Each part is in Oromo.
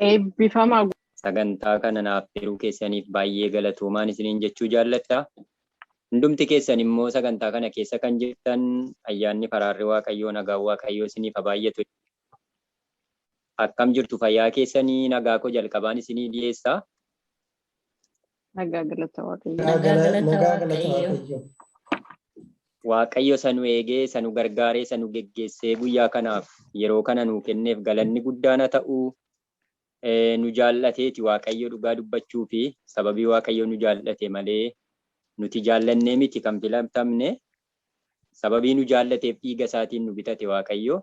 Eebbifamaa gu- Sagantaa kana naaf affeeruu keessaniif baay'ee galatoomaan isiniin jechuu jaalladha. Hundumti keessan immoo sagantaa kana keessa kan jirtan ayyaanni faraarri Waaqayyoo nagaan Waaqayyoo isiniif haa baay'atu. Akkam jirtu fayyaa keessanii nagaa koo jalqabaan isinii dhiyeessa. Nagaa galata waaqayyo. Nagaa Nagaa gala- galata nagaa galata Waaqayyoo. waaqayyoo. Waaqayyo isa nu eegee, isa nu gargaaree, isa nu geggeessee guyyaa kanaaf yeroo kana nuu kenneef galanni guddaan haa ta'u. Eh, Nu jaallateeti Waaqayyo dhugaa dubbachuu fi sababii Waaqayyo nu jaallate malee nuti jaallannee miti kan filatamne. Sababii nu jaallateef dhiiga isaatiin nu bitate Waaqayyo.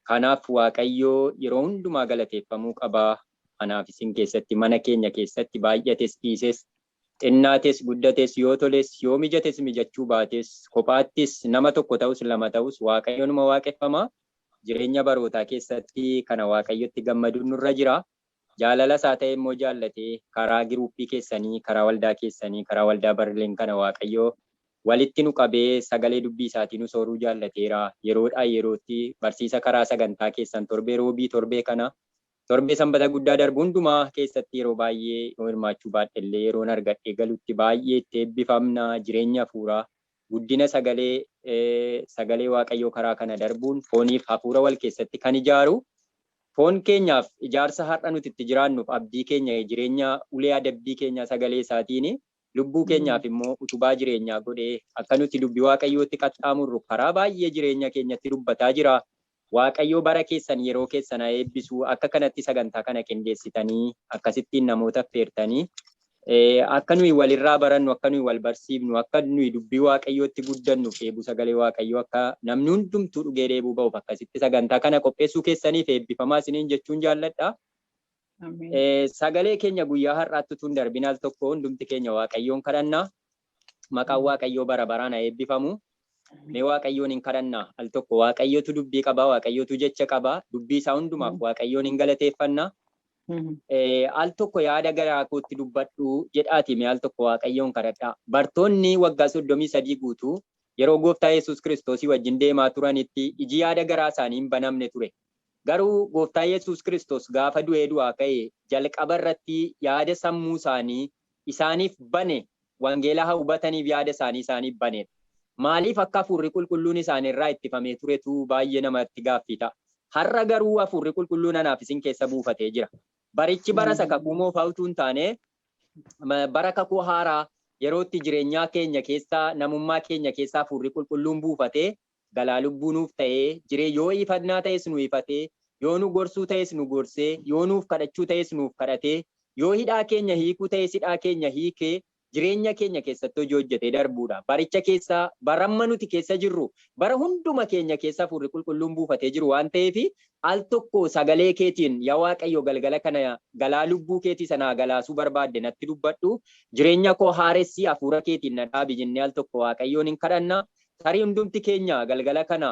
Kanaaf Waaqayyo yeroo hundumaa galateeffamuu qaba. Anaaf isin keessatti, mana keenya keessatti baay'ates dhiises, xinnaates guddates, yoo toles yoo mijates mijachuu baates, kophaattis nama tokko ta'us lama ta'us Waaqayyo numa waaqeffama. Jireenya barootaa keessatti kana Waaqayyotti gammaduun nurra jira. Jaalala isaa ta'ee immoo jaallatee karaa giruuppii keessanii, karaa waldaa keessanii, karaa waldaa Berlin kana Waaqayyo walitti nu qabee sagalee dubbii isaatii nu sooruu jaallateera. Yeroodhaa yerootti barsiisa karaa sagantaa keessan torbee Roobii, torbee kana, torbee Sanbata guddaa darbu hundumaa keessatti yeroo baay'ee yoo hirmaachuu baadhe illee yeroon argadhee galutti baay'ee itti eebbifamna. Jireenya hafuuraa Guddina sagalee, sagalee Waaqayyoo karaa kana darbuun fooniif hafuura wal keessatti kan ijaaru, foon keenyaaf ijaarsa har'a nuti itti jiraannuuf abdii keenya, jireenya ulee adabbii keenyaa sagalee isaatiin, lubbuu keenyaaf immoo utubaa jireenyaa godhee akka nuti dubbi Waaqayyootti qaxxaamurru karaa baay'ee jireenya keenyatti dubbataa jira. Waaqayyoo bara keessan yeroo keessan haa eebbisu akka kanatti sagantaa kana qindeessitanii akkasittiin namoota affeertanii akka nuyi walirraa barannu akka nuyi wal barsiifnu akka nuyi dubbii waaqayyootti guddannuuf dheebuu sagalee waaqayyoo akka namni hundumtuu dhugee dheebuu ba'uuf akkasitti sagantaa kana qopheessuu keessaniif eebbifamaa isiniin jechuun jaalladha. Sagalee keenya guyyaa har'aatti utuu hin darbin al tokko hundumti keenya waaqayyoon kadhanna. Maqaan waaqayyoo bara baraan haa eebbifamu. Mee waaqayyoon hin kadhannaa al tokko waaqayyotu dubbii qaba waaqayyotu jecha qaba dubbii isaa hundumaaf waaqayyoon hin galateeffanna. Al tokko yaada garaa kootti dubbadhu jedhaati mee al tokko waaqayyoon kadhadhaa. Bartoonni waggaa soddomii sadii guutuu yeroo gooftaa Yesuus Kiristoosii wajjin deemaa turanitti iji yaada garaa isaanii hin banamne ture. Garuu gooftaa Yesuus Kiristoos gaafa du'ee du'aa ka'e jalqaba irratti yaada sammuu isaanii isaaniif bane wangeelaha hubataniif yaada isaanii isaaniif baneedha. Maaliif akka Hafuurri Qulqulluun isaanirraa ittifamee turetu baay'ee namatti gaaffii ta'a. Har'a garuu Hafuurri Qulqulluun anaaf isin keessa buufatee jira. Barichi bara isa Kakuu Moofaa utuu hin taane bara Kakuu Haaraa yeroo itti jireenyaa keenya keessa, namummaa keenya keessa Hafuurri Qulqulluun buufatee galaa lubbuu nuuf ta'ee jiree yoo iifadnaa ta'es nu ifatee yoo nu gorsuu ta'es nu gorsee yoo nuuf kadhachuu ta'es nuuf kadhatee yoo hidhaa keenya hiikuu ta'es hidhaa keenya hiikee jireenya keenya keessatti hojii hojjetee darbuudha baricha keessa baramma nuti keessa jirru bara hunduma keenya keessa afuurri qulqulluun buufatee jiru waan ta'eef al tokko sagalee keetiin ya waaqayyo galgala kana galaa lubbuu keetii sana galaasuu barbaadde natti dubbadhu jireenya koo haaressi afuura keetiin na dhaabi jennee al tokko waaqayyoon hin kadhanna Tarii hundumti keenya galgala kana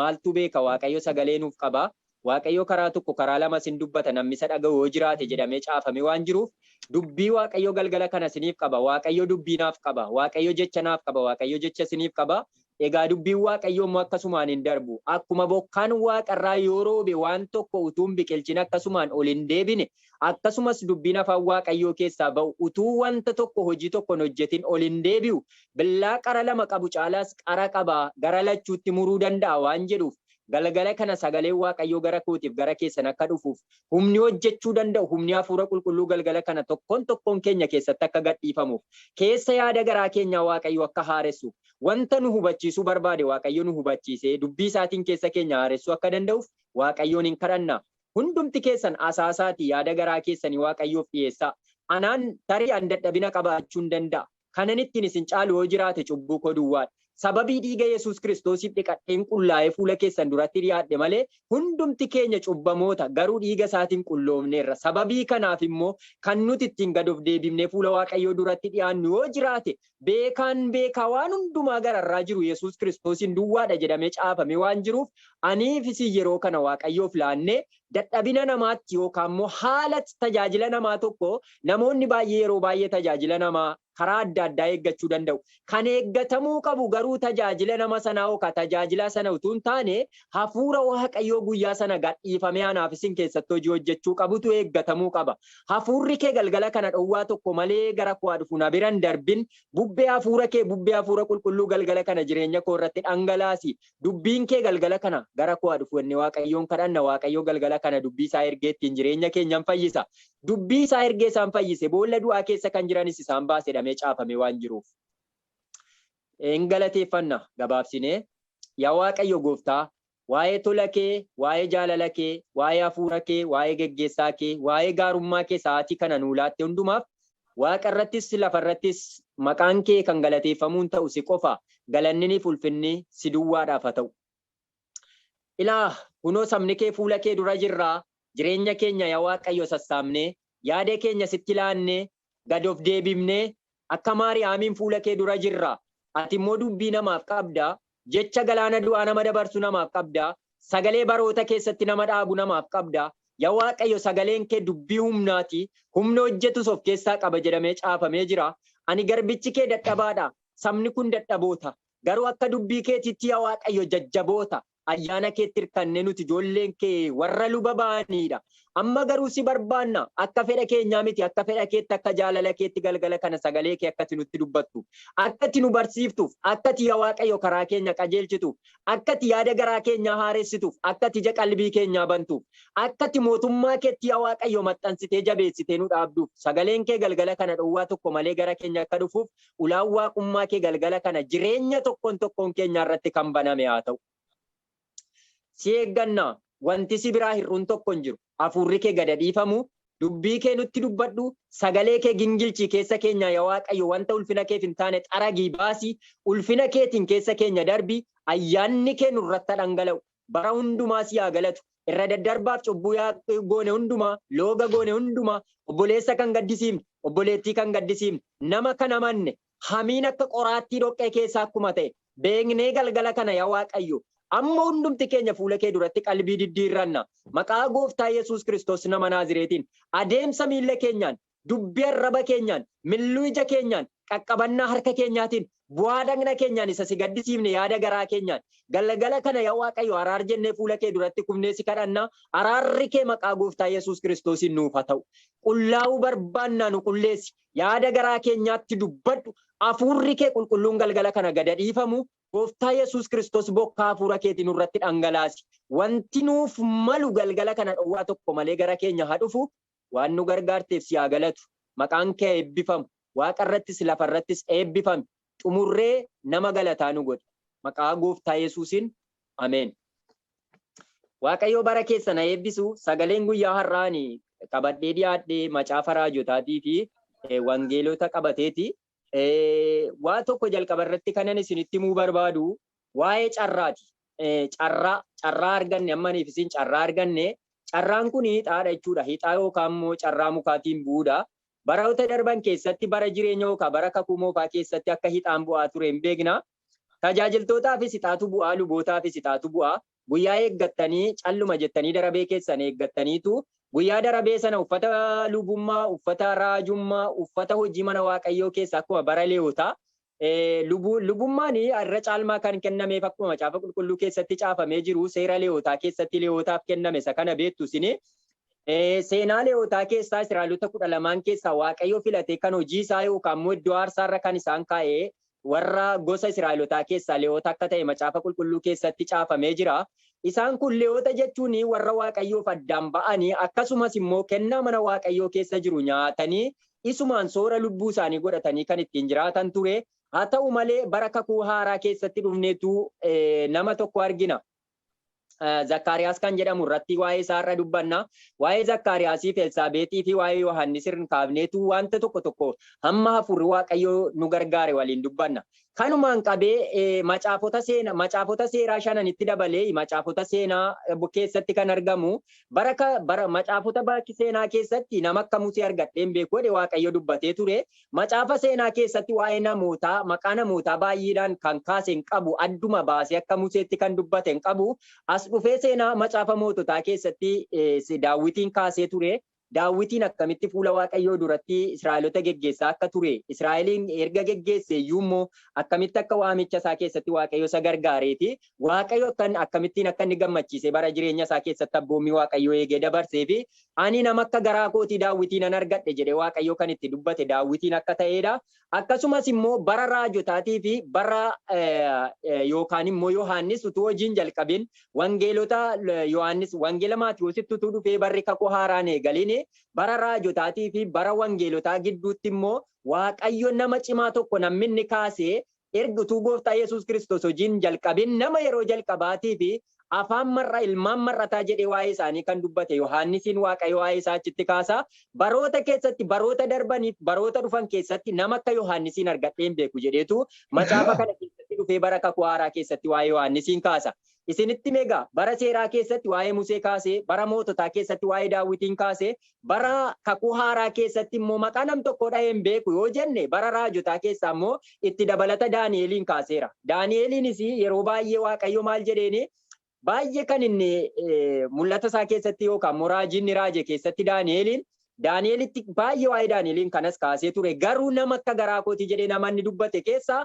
maaltu beeka Waaqayyo sagalee nuuf qaba, Waaqayyo karaa tokko karaa lamas in dubbata namni isa dhaga'u yoo jiraate jedhamee caafamee waan jiruuf dubbii Waaqayyo galgala kana isiniif qaba Waaqayyo dubbii naaf qaba Waaqayyo jecha naaf qaba Waaqayyo jecha isiniif qaba Egaa dubbiin Waaqayyoo immoo akkasumaan hin darbu akkuma bokkaan waaqa irraa yoo roobe waan tokko utuu hin biqilchin akkasumaan ol hin deebine Akkasumas dubbiin afaan Waaqayyoo keessaa ba'u utuu wanta tokko hojii tokko hin hojjetin ol hin deebi'u, billaa qara lama qabu caalaas qara qaba, gara lachuutti muruu danda'a waan jedhuuf, galgala kana sagaleen Waaqayyoo gara kootiif gara keessan akka dhufuuf, humni hojjechuu danda'u, humni Hafuura Qulqulluu galgala kana tokkoon tokkoon keenya keessatti akka gadhiifamuuf, keessa yaada garaa keenyaa Waaqayyo akka haaressuuf, wanta nu hubachiisuu barbaade Waaqayyo nu hubachiisee dubbii isaatiin keessa keenya haaressuu akka danda'uuf Waaqayyoon in kadhanna. Hundumti keessan asaasaatii yaada garaa keessanii Waaqayyoof dhi'eessaa. Anaan, tarii ani dadhabina qabaachuun danda'a. Kanan ittiin isin caalu yoo jiraate cubbuu koo duwwaa dha. Sababii dhiiga Yesuus Kiristoosiif dhiqadheen qullaa'ee fuula keessan duratti dhi'aadhe malee, hundumti keenya cubbamoota, garuu dhiiga isaatiin qulloofneerra. Sababii kanaaf immoo kan nuti ittiin gad of deebifnee fuula Waaqayyoo duratti dhi'aannu yoo jiraate Beekaan beekaa waan hundumaa gararraa jiru Yesuus Kiristoosiin duwwaadha jedhamee caafamee waan jiruuf aniif isin yeroo kana Waaqayyoof laannee dadhabina namaatti yookaanmoo haala tajaajila namaa tokko namoonni baay'ee yeroo baay'ee tajaajila namaa karaa adda addaa eeggachuu danda'u. Kan eeggatamuu qabu garuu tajaajila nama sanaa yookaan tajaajilaa sana utuu hin taane hafuura Waaqayyoo guyyaa sana gadhiifamee anaaf isin keessatti hojii hojjechuu qabutu eeggatamuu qaba. Hafuurri kee galgala kana dhowwaa tokko malee gara koo haa dhufu, na bira hin darbin. Bubbee Hafuura kee, bubbee Hafuura Qulqulluu galgala kana jireenya koo irratti dhangalaasi. Dubbiin kee galgala kana gara koo haa dhufu jennee Waaqayyoon kadhanna. Waaqayyo galgala kana dubbii isaa ergee ittiin jireenya keenya in fayyisa. Dubbii isaa ergee isaan fayyise, boolla du'aa keessa kan jiranis isaan baase jedhamee caafamee waan jiruuf. In galateeffanna gabaabsinee. Yaa Waaqayyo gooftaa, Waa'ee tola kee, waa'ee jaalala kee, waa'ee hafuura kee, waa'ee geggeessaa kee, waa'ee gaarummaa kee sa'aatii kana nuu laatte hundumaaf, waaqa irrattis lafa irrattis maqaan kee kan galateeffamuu hin ta'u si qofa, galanniniif ulfinni si duwwaadhaaf ha ta'u. Ilaa, kunoo sabni kee fuula kee dura jirra, jireenya keenya ya Waaqayyo sassaabnee, yaada keenya sitti laannee, gad of deebifnee akka Maariyaamiin fuula kee dura jirra. Ati immoo dubbii namaaf qabda, jecha galaana du'aa nama dabarsu namaaf qabda, sagalee baroota keessatti nama dhaabu namaaf qabda. Yaa Waaqayyo sagaleen kee dubbii humnaati, humna hojjetus of keessaa qaba jedhamee caafamee jira. Ani garbichi kee dadhabaadha, sabni kun dadhaboota, garuu akka dubbii keetiitti yaa Waaqayyo jajjaboota. ayyaana keetti hirkanne nuti ijoolleen kee warra luba ba'aniidha. Amma garuu si barbaanna akka fedha keenyaa miti akka fedha keetti akka jaalala keetti galgala kana sagalee kee akkati nutti dubbattu akkati nu barsiiftuuf akkati yaa waaqayyo karaa keenya qajeelchituuf akkati yaada garaa keenyaa haaressituuf akkati ija qalbii keenyaa bantuuf akkati mootummaa keetti yaa waaqayyo maxxansitee jabeessitee nu dhaabduuf sagaleen kee galgala kana dhowwaa tokko malee gara keenya akka dhufuuf Ulaan Waaqummaa kee galgala kana jireenya tokkoon tokkoon keenyaa irratti kan baname haa ta'u. Si eegganna, wanti si biraa hir'uun tokko hin jiru. Hafuurri kee gada dhiifamu, dubbii kee nutti dubbadhu, sagalee kee gingilchii keessa keenyaa yaa Waaqayyo wanta ulfina keef hin taane xaragii baasi, ulfina keetiin keessa keenya darbi, ayyaanni kee nurratti haa dhangala'u. bara hundumaa si haa galatu. Irra daddarbaaf cubbuu yaa goone hundumaa, looga goone hundumaa, obboleessa kan gaddisiifne, obboleettii kan gaddisiifne, nama kan amanne, hamiin akka qoraattii dhoqqee keessaa akkuma ta'e beeknee galgala kana yaa Waaqayyo, amma hundumti keenya fuula kee duratti qalbii diddiirranna. Maqaa Gooftaa Yesuus Kiristoos nama Naazireetiin adeemsa miilla keenyaan dubbii arraba keenyaan, milluu ija keenyaan, qaqqabannaa harka keenyaatiin, bu'aa dhagna keenyaan isa si gaddisiifne yaada garaa keenyaan. Galgala kana yaa Waaqayyo araar jennee fuula kee duratti kufnee si kadhanna, araarri kee maqaa gooftaa Yesuus Kiristoosiin nuuf haa ta'u. Qullaa'uu barbaannaa nu qulleessi, yaada garaa keenyaatti dubbadhu, hafuurri kee qulqulluun galgala kana gada dhiifamu, gooftaa Yesuus Kiristoos bokkaa hafuura keetii nurratti dhangalaasi. Wanti nuuf malu galgala kana dhowwaa tokko malee gara keenya haa dhufu, Waan nu gargaarteef si haa galatu. Maqaan kee haa eebbifamu. Waaqa irrattis lafa irrattis eebbifami. Xumurree nama galataa nu godhi. Maqaa gooftaa yesuusin Ameen. Waaqayyoo bara keessan haa eebbisu. Sagaleen guyyaa har'aa ani qabadhee dhiyaadhe macaafa raajotaatiifi wangeelota qabateeti. Waan tokko jalqaba irratti kanan isinitti himuu barbaadu waa'ee carraati. Carraa carraa arganne ammaniif isin carraa arganne carraan kun hixaadha jechuudha. Hixaa yookaan immoo carraa mukaatiin bu'uudha. Baroota darban keessatti bara jireenya yookaan bara kakuu moofaa keessatti akka hixaan bu'aa ture hin beekna. Tajaajiltootaafis hixaatu bu'aa, lubootaafis hixaatu bu'aa. Guyyaa eeggattanii calluma jettanii darabee keessan eeggattaniitu guyyaa darabee sana uffata lubummaa, uffata raajummaa, uffata hojii mana Waaqayyoo keessa akkuma bara Leewwotaa lubummaan irra caalmaa kan kennameef akkuma macaafa qulqulluu keessatti caafamee jiru seera Leewwotaa keessatti Leewwotaaf kenname isa kana beektu isin seenaa Leewwotaa keessaa Israa'elota kudha lamaan keessaa Waaqayyo filatee kan hojii isaa yookaan immoo iddoo aarsaa irra kan isaan kaa'ee Warra gosa Israa'elotaa keessaa Lewoota akka ta'e Macaafa Qulqulluu keessatti caafamee jira. Isaan kun Lewoota jechuun warra Waaqayyoof addaan ba'anii akkasumas immoo kennaa mana Waaqayyoo keessa jiru nyaatanii isumaan soora lubbuu isaanii godhatanii kan ittiin jiraatan ture. Haa ta'u malee bara kakuu haaraa keessatti dhufneetu nama tokko argina. Zakkaariyaas kan jedhamu irratti waa'ee isaa irra dubbanna. Waa'ee Zakkaariyaasii fi Elsaabeexii fi waa'ee Yohaannis irra kaafneetu wanta tokko tokko hamma hafuurri Waaqayyoo nu gargaare waliin dubbanna. Kanumaan qabee macaafota seena macaafota seeraa shananitti dabalee macaafota seenaa keessatti kan argamu bara bara macaafota baakki seenaa keessatti nama akka Musee argadheen beeku jedhe Waaqayyo dubbatee ture. Macaafa seenaa keessatti waa'ee namootaa, maqaa namootaa baay'eedhaan kan kaase hin qabu, adduma baasee akka Museetti kan dubbate hin qabu. As dhufee seenaa Macaafa Moototaa keessatti Daawwitiin kaasee ture. Daawwitiin akkamitti fuula Waaqayyoo duratti Israa'elota geggeessaa akka ture, Israa'eliin erga geggeesse iyyuu immoo akkamitti akka waamicha isaa keessatti Waaqayyo isa gargaaree fi Waaqayyo akkamittiin akka inni gammachiisee bara jireenya isaa keessatti abboommii Waaqayyoo eegee dabarsee fi Ani nama akka garaa kootii Daawitii nan argadhe jedhee Waaqayyo kan itti dubbate Daawitiin akka ta'ee dha. Akkasumas immoo bara raajotaatii fi bara yookaan immoo Yohaannis utuu hojiin jalqabin wangeelota Yohaannis wangeela Maatiwoositti utuu dhufee barri kakuu haaraan eegalin bara raajotaatii fi bara wangeelotaa gidduutti immoo Waaqayyo nama cimaa tokko namni inni kaasee Erga utuu Gooftaa Yesuus Kiristoos hojii hin jalqabin nama yeroo jalqabaatiif afaan mar'a, ilmaan mar'ataa jedhee waa'ee isaanii kan dubbate Yohaannisiin Waaqayyo waa'ee isaa achitti kaasa, Baroota keessatti, baroota darbaniif baroota dhufan keessatti nama akka Yohaannisiin argadhee hin beeku jedheetu macaafa kana keessatti dhufee bara Kakuu Haaraa keessatti waa'ee Yohaannisiin kaasa. isinitti hime egaa bara seeraa keessatti waa'ee Musee kaasee, bara moototaa keessatti waa'ee Daawwitiin kaasee, bara kakuu haaraa keessatti immoo maqaa nam tokkoo dhahee hin beeku yoo jenne bara raajotaa keessaa immoo itti dabalata Daani'eeliin kaaseera. Daani'eeliinis yeroo baay'ee Waaqayyo maal jedheeni baay'ee kan inni mul'ata isaa keessatti yookaan immoo raajii inni raaje keessatti Daani'eeliin Daani'elitti baay'ee waa'ee Daani'eliin kanas kaasee ture garuu nama akka garaa kootii jedhee nama inni dubbate keessaa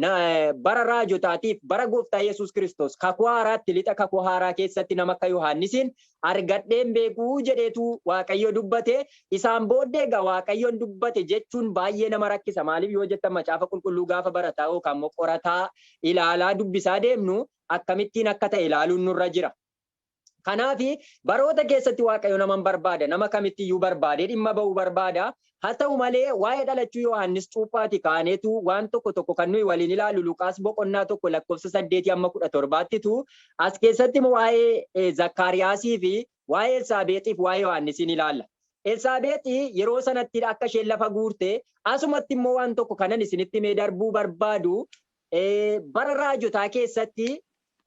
na- eh, bara raajotaatiif bara gooftaa Yesuus Kiristoos kakuu haaraatti lixa kakuu haaraa keessatti nama akka Yohaannisiin argadheen beekuu jedheetu Waaqayyo dubbate isaan booddee egaa Waaqayyoon dubbate jechuun baay'ee nama rakkisa maaliif yoo jettan macaafa qulqulluu gaafa barataa yookaan immoo qorataa ilaalaa dubbisaa deemnu akkamittiin akka ta'e ilaaluun nurra jira. Kanaafi baroota keessatti Waaqayyo naman barbaada, nama kamitti iyyuu barbaadee dhimma ba'uu barbaada. Haa ta'u malee waa'ee dhalachuu Yohaannis Cuuphaati kaaneetu waan tokko tokko kan nuyi waliin ilaallu Luqaas boqonnaa 1 lakkoofsa 8 amma 17ttitu as keessatti waa'ee Zakkaariyaasii fi waa'ee Elsaabeexii fi waa'ee Yohaannisiin ilaalla. Elsaabeexi yeroo sanatti akka isheen lafa guurte asumatti immoo waan tokko kanan isinitti mee darbuu barbaadu Eh, bara raajotaa keessatti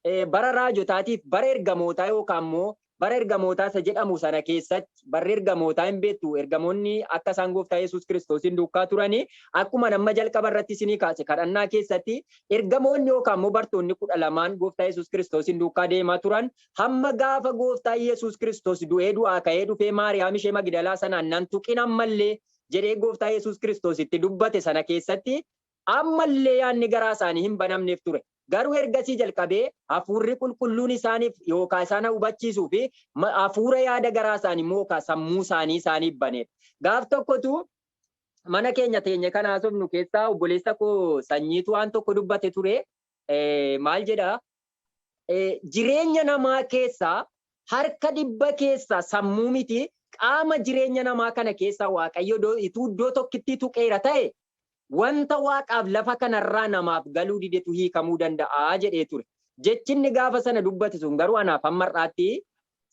eh, bara raajotaatiif bara ergamootaa yookaan immoo bara ergamootaa isa jedhamu sana keessatti barri ergamootaa hin beektu ergamoonni akka isaan gooftaa Yesuus Kiristoosiin duukaa turanii akkuma nama jalqaba irratti isinii kaase kadhannaa keessatti ergamoonni yookaan immoo bartoonni kudha lamaan gooftaa Yesuus Kiristoosiin duukaa deemaa turan hamma gaafa gooftaa Yesuus Kiristoos du'ee du'aa ka'ee dhufee Maariyaam ishee Magidalaa sanaan nan tuqin ammallee jedhee gooftaa Yesuus Kiristoos itti dubbate sana keessatti Amma illee yaadni garaa isaanii hin banamneef ture. Garuu ergasii jalqabee Hafuurri Qulqulluun isaaniif yookaa isaan hubachiisuu fi Hafuura yaada garaa isaanii mookaa sammuu isaanii isaaniif baneef. Gaaf tokko utuu mana keenya teenye kan haasofnu keessaa obboleessa koo Sanyiitu waan tokko dubbate ture. Maal jedha? jireenya namaa keessaa harka dhibba keessaa sammuu miti qaama jireenya namaa kana keessaa Waaqayyo ituu iddoo tokkittii tuqeera ta'e wanta Waaqaaf lafa kanarraa namaaf galuu didetu hiikamuu danda'a jedhee ture. Jechi inni gaafa sana dubbate sun garuu anaaf hamma har'aatti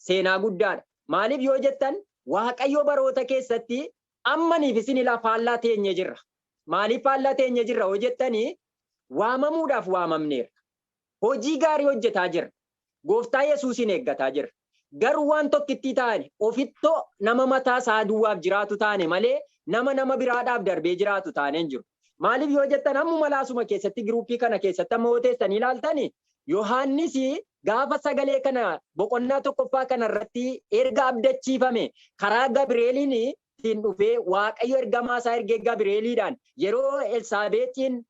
seenaa guddaadha. Maaliif yoo jettan Waaqayyo baroota keessatti ammaniif isinilaa faallaa teenye jirra. Maaliif faallaa teenye jirra yoo jettanii waamamuudhaaf waamamneerra. Hojii gaarii hojjetaa jirra. Gooftaa Yesuusiin eeggataa jirra. Garuu waan tokkittii taane ofittoo nama mataa isaa duwwaaf jiraatu taane malee nama nama biraadhaaf darbee jiraatu taanee hin jiru. Maaliif yoo jettan ammuma laasuma keessatti giruuppii kana keessatti amma yoo teessanii ilaaltani Yohaannis gaafa sagalee kana boqonnaa tokkoffaa kana irratti erga abdachiifame karaa Gabireeliin ittiin dhufee Waaqayyo ergamaa isaa ergee Gabri'eeliidhaan yeroo Elsaabeexiin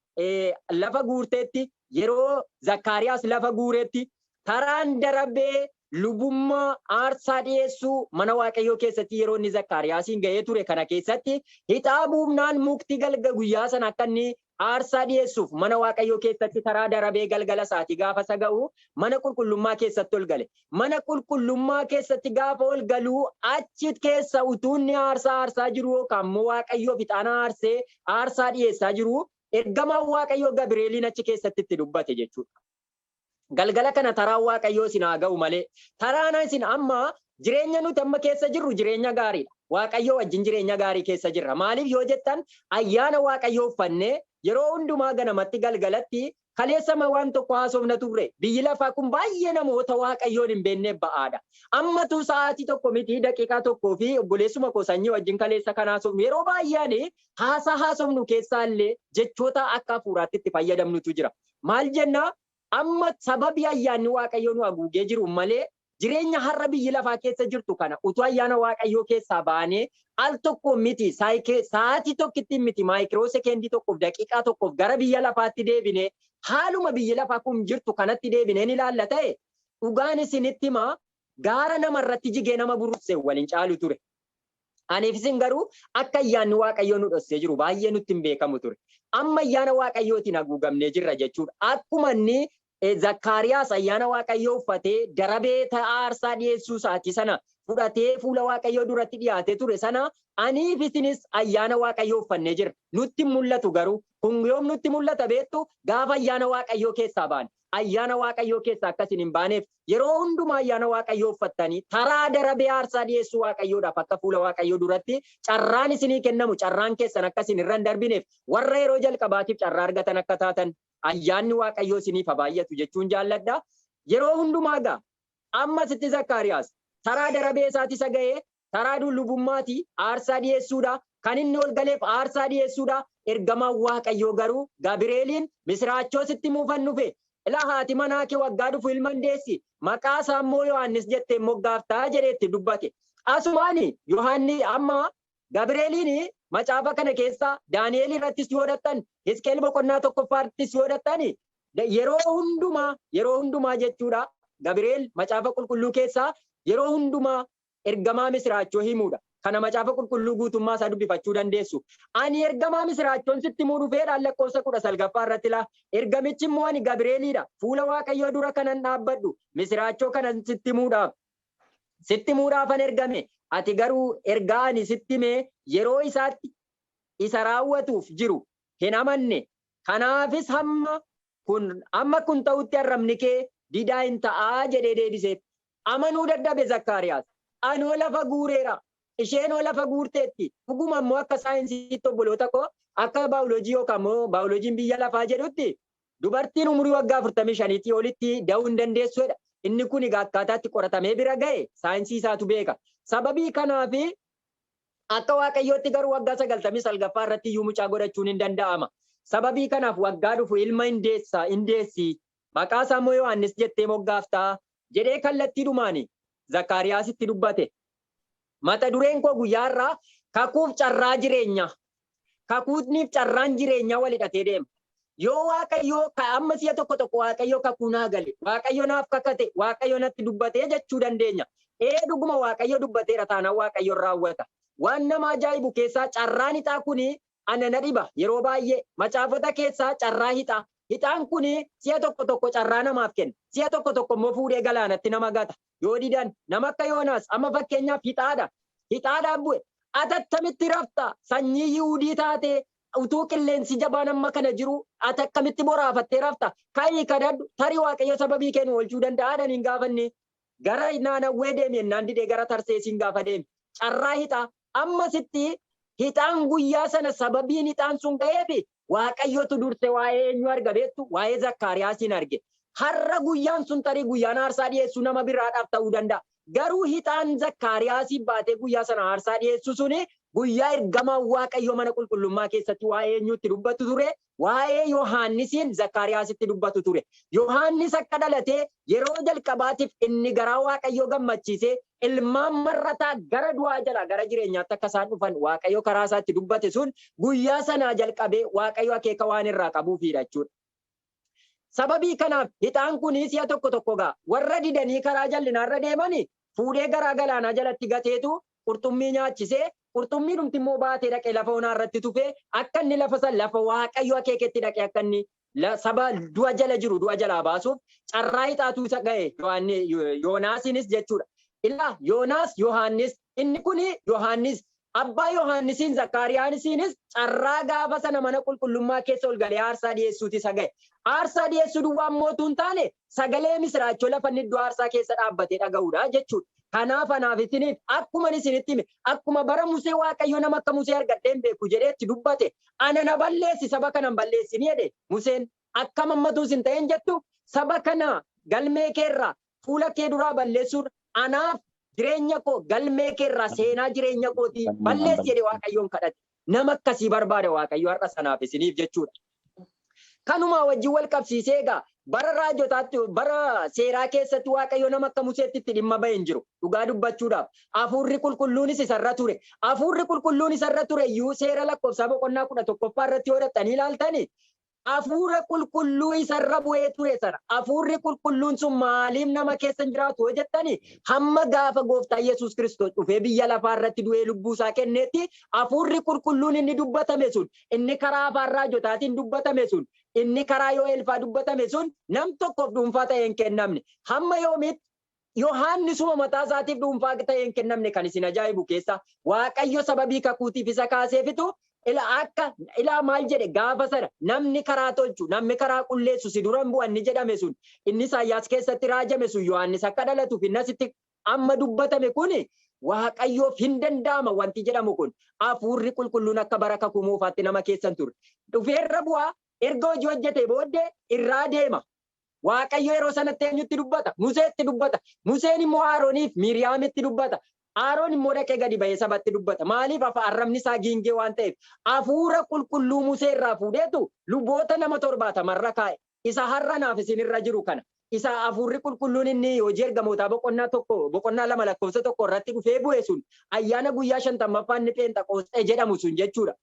lafa guurteetti, yeroo Zakkaariyaas lafa guureetti taraan darabee lubummaa aarsaa dhiyeessuu mana Waaqayyoo keessatti yeroo inni Zakkaariyaasiin ga'ee ture kana keessatti hixaa buufnaan mukti galga guyyaa sana akka inni Aarsaa dhi'eessuuf mana Waaqayyoo keessatti karaa darabee galgala sa'atii gaafa isa ga'u mana qulqullummaa keessatti ol gale. Mana qulqullummaa keessatti gaafa ol galu achi keessa utuu inni aarsaa aarsaa jiruu yookaan immoo Waaqayyoof ixaana aarsee aarsaa dhi'eessaa jiruu ergamaan Waaqayyoo Gabireeliin achi keessatti itti dubbate jechuudha. Galgala kana taraan Waaqayyoo isin haa ga'u malee taraan isin amma jireenya nuti amma keessa jirru jireenya gaariidha. Waaqayyoo wajjin jireenya gaarii keessa jirra. Maaliif yoo jettan ayyaana Waaqayyoo uffannee yeroo hundumaa ganamatti galgalatti kaleessa ma waan tokko haasofna turre. Biyyi lafaa kun baay'ee namoota Waaqayyoon hin beekneef ba'aadha. Ammatu sa'aatii tokko miti daqiiqaa tokkoo fi obboleessuma koo sanyii wajjin kaleessa kan haasofnu yeroo baay'een haasaa haasofnu keessaa illee jechoota akka hafuuraatti itti fayyadamnutu jira. Maal jenna? Amma sababii ayyaanni Waaqayyoo nu aguugee jiruun malee jireenya har'a biyyi lafaa keessa jirtu kana utuu ayyaana Waaqayyoo keessaa baanee al tokkoon miti, saayike, sa'aatii tokkittiin miti, maayikiroo sekeendii tokkoof, daqiiqaa tokkoof gara biyya lafaatti deebinee haaluma biyyi lafaa kun jirtu kanatti deebinee ni ilaalla ta'e, dhugaan isinitti hima, gaara nama irratti jigee nama burusse wal hin caalu ture. Aniif isin garuu akka ayyaanni Waaqayyoo nu dhossee jiru baay'ee nutti hin beekamu ture. Amma ayyaana Waaqayyootiin haguugamnee jirra jechuudha. Akkuma inni eh, Zakkaariyaas ayyaana Waaqayyoo uffatee darabee ta'aa aarsaa dhiyeessuu isaatii sana fudhatee fuula Waaqayyoo duratti dhiyaatee ture sana aniif isinis ayyaana Waaqayyoo uffannee jirra. Nutti hin mul'atu garuu kun yoom nutti mul'ata beektu gaafa ayyaana Waaqayyoo keessaa baane. ayyaana Waaqayyoo keessaa akka isin hin baaneef yeroo hundumaa ayyaana Waaqayyoo uffattanii taraa darabee aarsaa dhiyeessuu Waaqayyoodhaaf akka fuula Waaqayyoo duratti carraan isinii kennamu carraan keessan akka isin irra hin darbineef warra yeroo jalqabaatiif carraa argatan akka taatan ayyaanni Waaqayyoo isiniif haa baay'atu jechuun jaalladha. Yeroo hundumaa egaa amma sitti Zakkaariyaas taraa darabee isaati isa ga'ee Saraaduun lubummaati, aarsaa dhi'eessuudha, kan inni ol galeef aarsaa dhi'eessuudha, ergamaan Waaqayyoo garuu Gabireeliin, Misiraachoo sitti himuufan dhufe, ilaa haati manaa kee waggaa dhufu ilma in deessi, maqaa isaa immoo Yohaannis jettee in moggaafta jedhee itti dubbate. Asumaan Yohaanni amma Gabireeliin macaafa kana keessaa Daani'eel irrattis yoo dhaqxan, Hisqeel boqonnaa tokkoffaa irrattis yoo dhaqxan, yeroo hundumaa, yeroo hundumaa jechuudha, Gabireel macaafa qulqulluu keessaa yeroo hundumaa Ergamaa misiraachoo himuudha. Kana Macaafa Qulqulluu guutummaa isaa dubbifachuu dandeessu. Ani ergamaa misiraachoon sitti himuu dhufeedhaan lakkoofsa 19ffaa irratti laa. Ergamichi immoo ani Gabireeliidha. Fuula Waaqayyoo dura kanan dhaabbadhu misiraachoo kanan sitti himuudhaaf. Sitti himuudhaafan ergame. Ati garuu ergaa ani sitti hime yeroo isaatti isa raawwatuuf jiru hin amanne. Kanaafis hamma kun amma kun ta'utti arrabni kee didaa in ta'a jedhee deebiseef. Amanuu dadhabe Zakkaariyaas. Anoo lafa guureera, isheenoo lafa guurteetti, dhuguma immoo akka saayinsiitti obboloota koo, akka baayoloojii yookaan immoo baayoloojiin biyya lafaa jedhutti dubartiin umurii waggaa 45tii olitti da'uu hin dandeessu jedha. Inni kun egaa akkaataa itti qoratamee bira ga'e saayinsii isaatu beeka. Sababii kanaaf akka Waaqayyootti garuu waggaa 99ffaa irratti iyyuu mucaa godhachuun hin danda'ama. Sababii kanaaf waggaa dhufu ilma hin deessa, hin deessi Maqaa isaa immoo Yohaannis jettee moggaafta jedhee kallattiidhumaan Zakkaariyaasitti dubbate. Mata dureen koo guyyaa har'aa kakuuf carraa jireenyaa. Kakuutniif carraan jireenyaa wal hidhatee deema. Yoo Waaqayyoo amma si'a tokko tokko Waaqayyoo kakuu naa gale, Waaqayyo naaf kakate, Waaqayyo natti dubbatee jechuu dandeenya. Ee dhuguma Waaqayyo dubbateera taanaan Waaqayyo raawwata. Waan nama ajaa'ibu keessaa carraan ixaa kun ana na dhiba. Yeroo baay'ee, macaafota keessaa carraa hixaa. Hixaan kun si'a tokko tokko carraa namaaf kenna, si'a tokko tokko immoo fuudhee galaanatti nama gata. Yoo didan, nama akka Yoonaas, amma fakkeenyaaf hixaadha, hixaadhaan bu'e. Ati attamitti rafta? Sanyii Yihudii taatee, utuu qilleensi jabaan amma kana jiruu, ati akkamitti boraafattee rafta? Ka'ii kadhadhu, tarii Waaqayyo sababii kee nu oolchuu danda'a jedhan hin gaafannee? Gara Naanawwee deemi jennaan didee gara Tarseesiin gaafa deeme, carraa hixaa, Ammasitti hixaan guyyaa sana sababiin hixaan sun ga'eef Waaqayyotu durse waa'ee eenyuu arga beektu? Waa'ee Zakkaariyaasiin arge. Har'a guyyaan sun tarii guyyaan aarsaa dhiyeessuu nama biraadhaaf ta'uu danda'a. Garuu hixaan Zakkaariyaasiif baatee guyyaa sana aarsaa dhiyeessuu suni guyyaa ergamaan Waaqayyoo mana qulqullummaa keessatti waa'ee eenyuu itti dubbatu ture? waa'ee Yohaannisiin Zakkaariyaasitti dubbatu ture. Yohaannis akka dhalatee yeroo jalqabaatiif inni garaa Waaqayyoo gammachiisee ilmaan mar'ataa gara du'aa jalaa gara jireenyaatti akka isaan dhufan Waaqayyo karaa isaa itti dubbate sun guyyaa sanaa jalqabee Waaqayyo akeeka waan irraa qabuufiidha jechuudha. Sababii kanaaf hixaan kun si'a tokko tokko gaa warra didanii karaa jal'inaarra deemani Fuudhee garaa galaanaa jalatti gateetu qurxummii nyaachise, qurxummiidhumti immoo baatee dhaqee lafa onaa irratti tufe, akka inni lafa sana lafa Waaqayyo akeeketti dhaqee akka inni saba du'a jala jiru du'a jalaa baasuuf carraa ixaatu isa ga'e, Yohaanni, Yoonaasiinis jechuudha. Ilaa, Yoonaas, Yohaannis, inni kuni Yohaannis, Abbaa Yohaannisiin Zakkaariyaanisiinis carraa gaafa sana mana qulqullummaa keessa ol galee aarsaa dhi'eessuuti isa ga'e. Aarsaa dhi'eessuu duwwaa immoo utuu hin taane, sagalee misiraachoo lafa inni iddoo aarsaa keessa dhaabbatee dhaga'uu dha jechuu dha. Kanaaf anaaf isiniif akkuman isinitti hime, akkuma bara Musee Waaqayyo nama akka Musee argadhee hin beeku jedhee itti dubbate, ana na balleessi, saba kana hin balleessini jedhe. Museen, Akkam hammatuu isin ta'een jettu? Saba kana galmee kee irraa, fuula kee duraa balleessuun anaaf jireenya koo galmee kee irraa seenaa jireenya kootii balleessi jedhee Waaqayyoon kadhate. Nama akkasii barbaada Waaqayyo har'a sanaaf isiniif jechuudha. Kanumaa wajjin wal qabsiisee egaa bara raajotaatti bara seeraa keessatti Waaqayyo nama akka Museetti itti dhimma ba'e hin jiru. Dhugaa dubbachuudhaaf hafuurri qulqulluunis isarra ture. Hafuurri qulqulluun isarra ture iyyuu seera lakkoofsaa boqonnaa kudha tokkoffaa irratti yoo dhaqxanii ilaaltani Hafuura qulqulluu isa irra bu'ee ture sana. Hafuurri qulqulluun sun maaliif nama keessa hin jiraatu yoo jettani hamma gaafa gooftaa Yesuus Kiristoos dhufee biyya lafaa irratti du'ee lubbuu isaa kenneetti hafuurri qulqulluun inni dubbatame sun inni karaa afaan raajotaatiin dubbatame sun inni karaa Yoo'eel faa dubbatame sun nam tokkoof dhuunfaa ta'ee hin kennamne. Hamma yoomiitti? Yohaannisuma mataa isaatiif dhuunfaa ta'ee hin kennamne kan isin ajaa'ibu keessaa Waaqayyo sababii kakuutiif isa kaaseefitu ila akka ilaa maal jedhe gaafa sana namni karaa tolchu namni karaa qulleessu si duran bu'a inni jedhame sun inni Isaayyaas keessatti raajame sun Yohaannis akka dhalatuuf inni asitti amma dubbatame kun Waaqayyoof hin danda'ama wanti jedhamu kun hafuurri qulqulluun akka bara kakuu moofaatti nama keessan ture dhufeerra bu'aa erga hojii hojjetee booddee irraa deema Waaqayyo yeroo sanatti eenyutti dubbata? Museetti dubbata. Museen immoo Aarooniif Miiriyaamitti dubbata. Aaroon immoo dhaqee gadi ba'ee sabatti dubbata. Maaliif afa arrabni isaa giingee waan ta'eef hafuura qulqulluu Musee irraa fuudheetu luboota nama torbaatama irra kaa'e. Isa har'a naaf isin irra jiru kana. Isa hafuurri qulqulluun inni hojii ergamootaa boqonnaa tokko boqonnaa lama lakkoofsa tokko irratti dhufee bu'e sun ayyaana guyyaa shantammaffaa inni pheenxaqoosxee jedhamu sun jechuudha.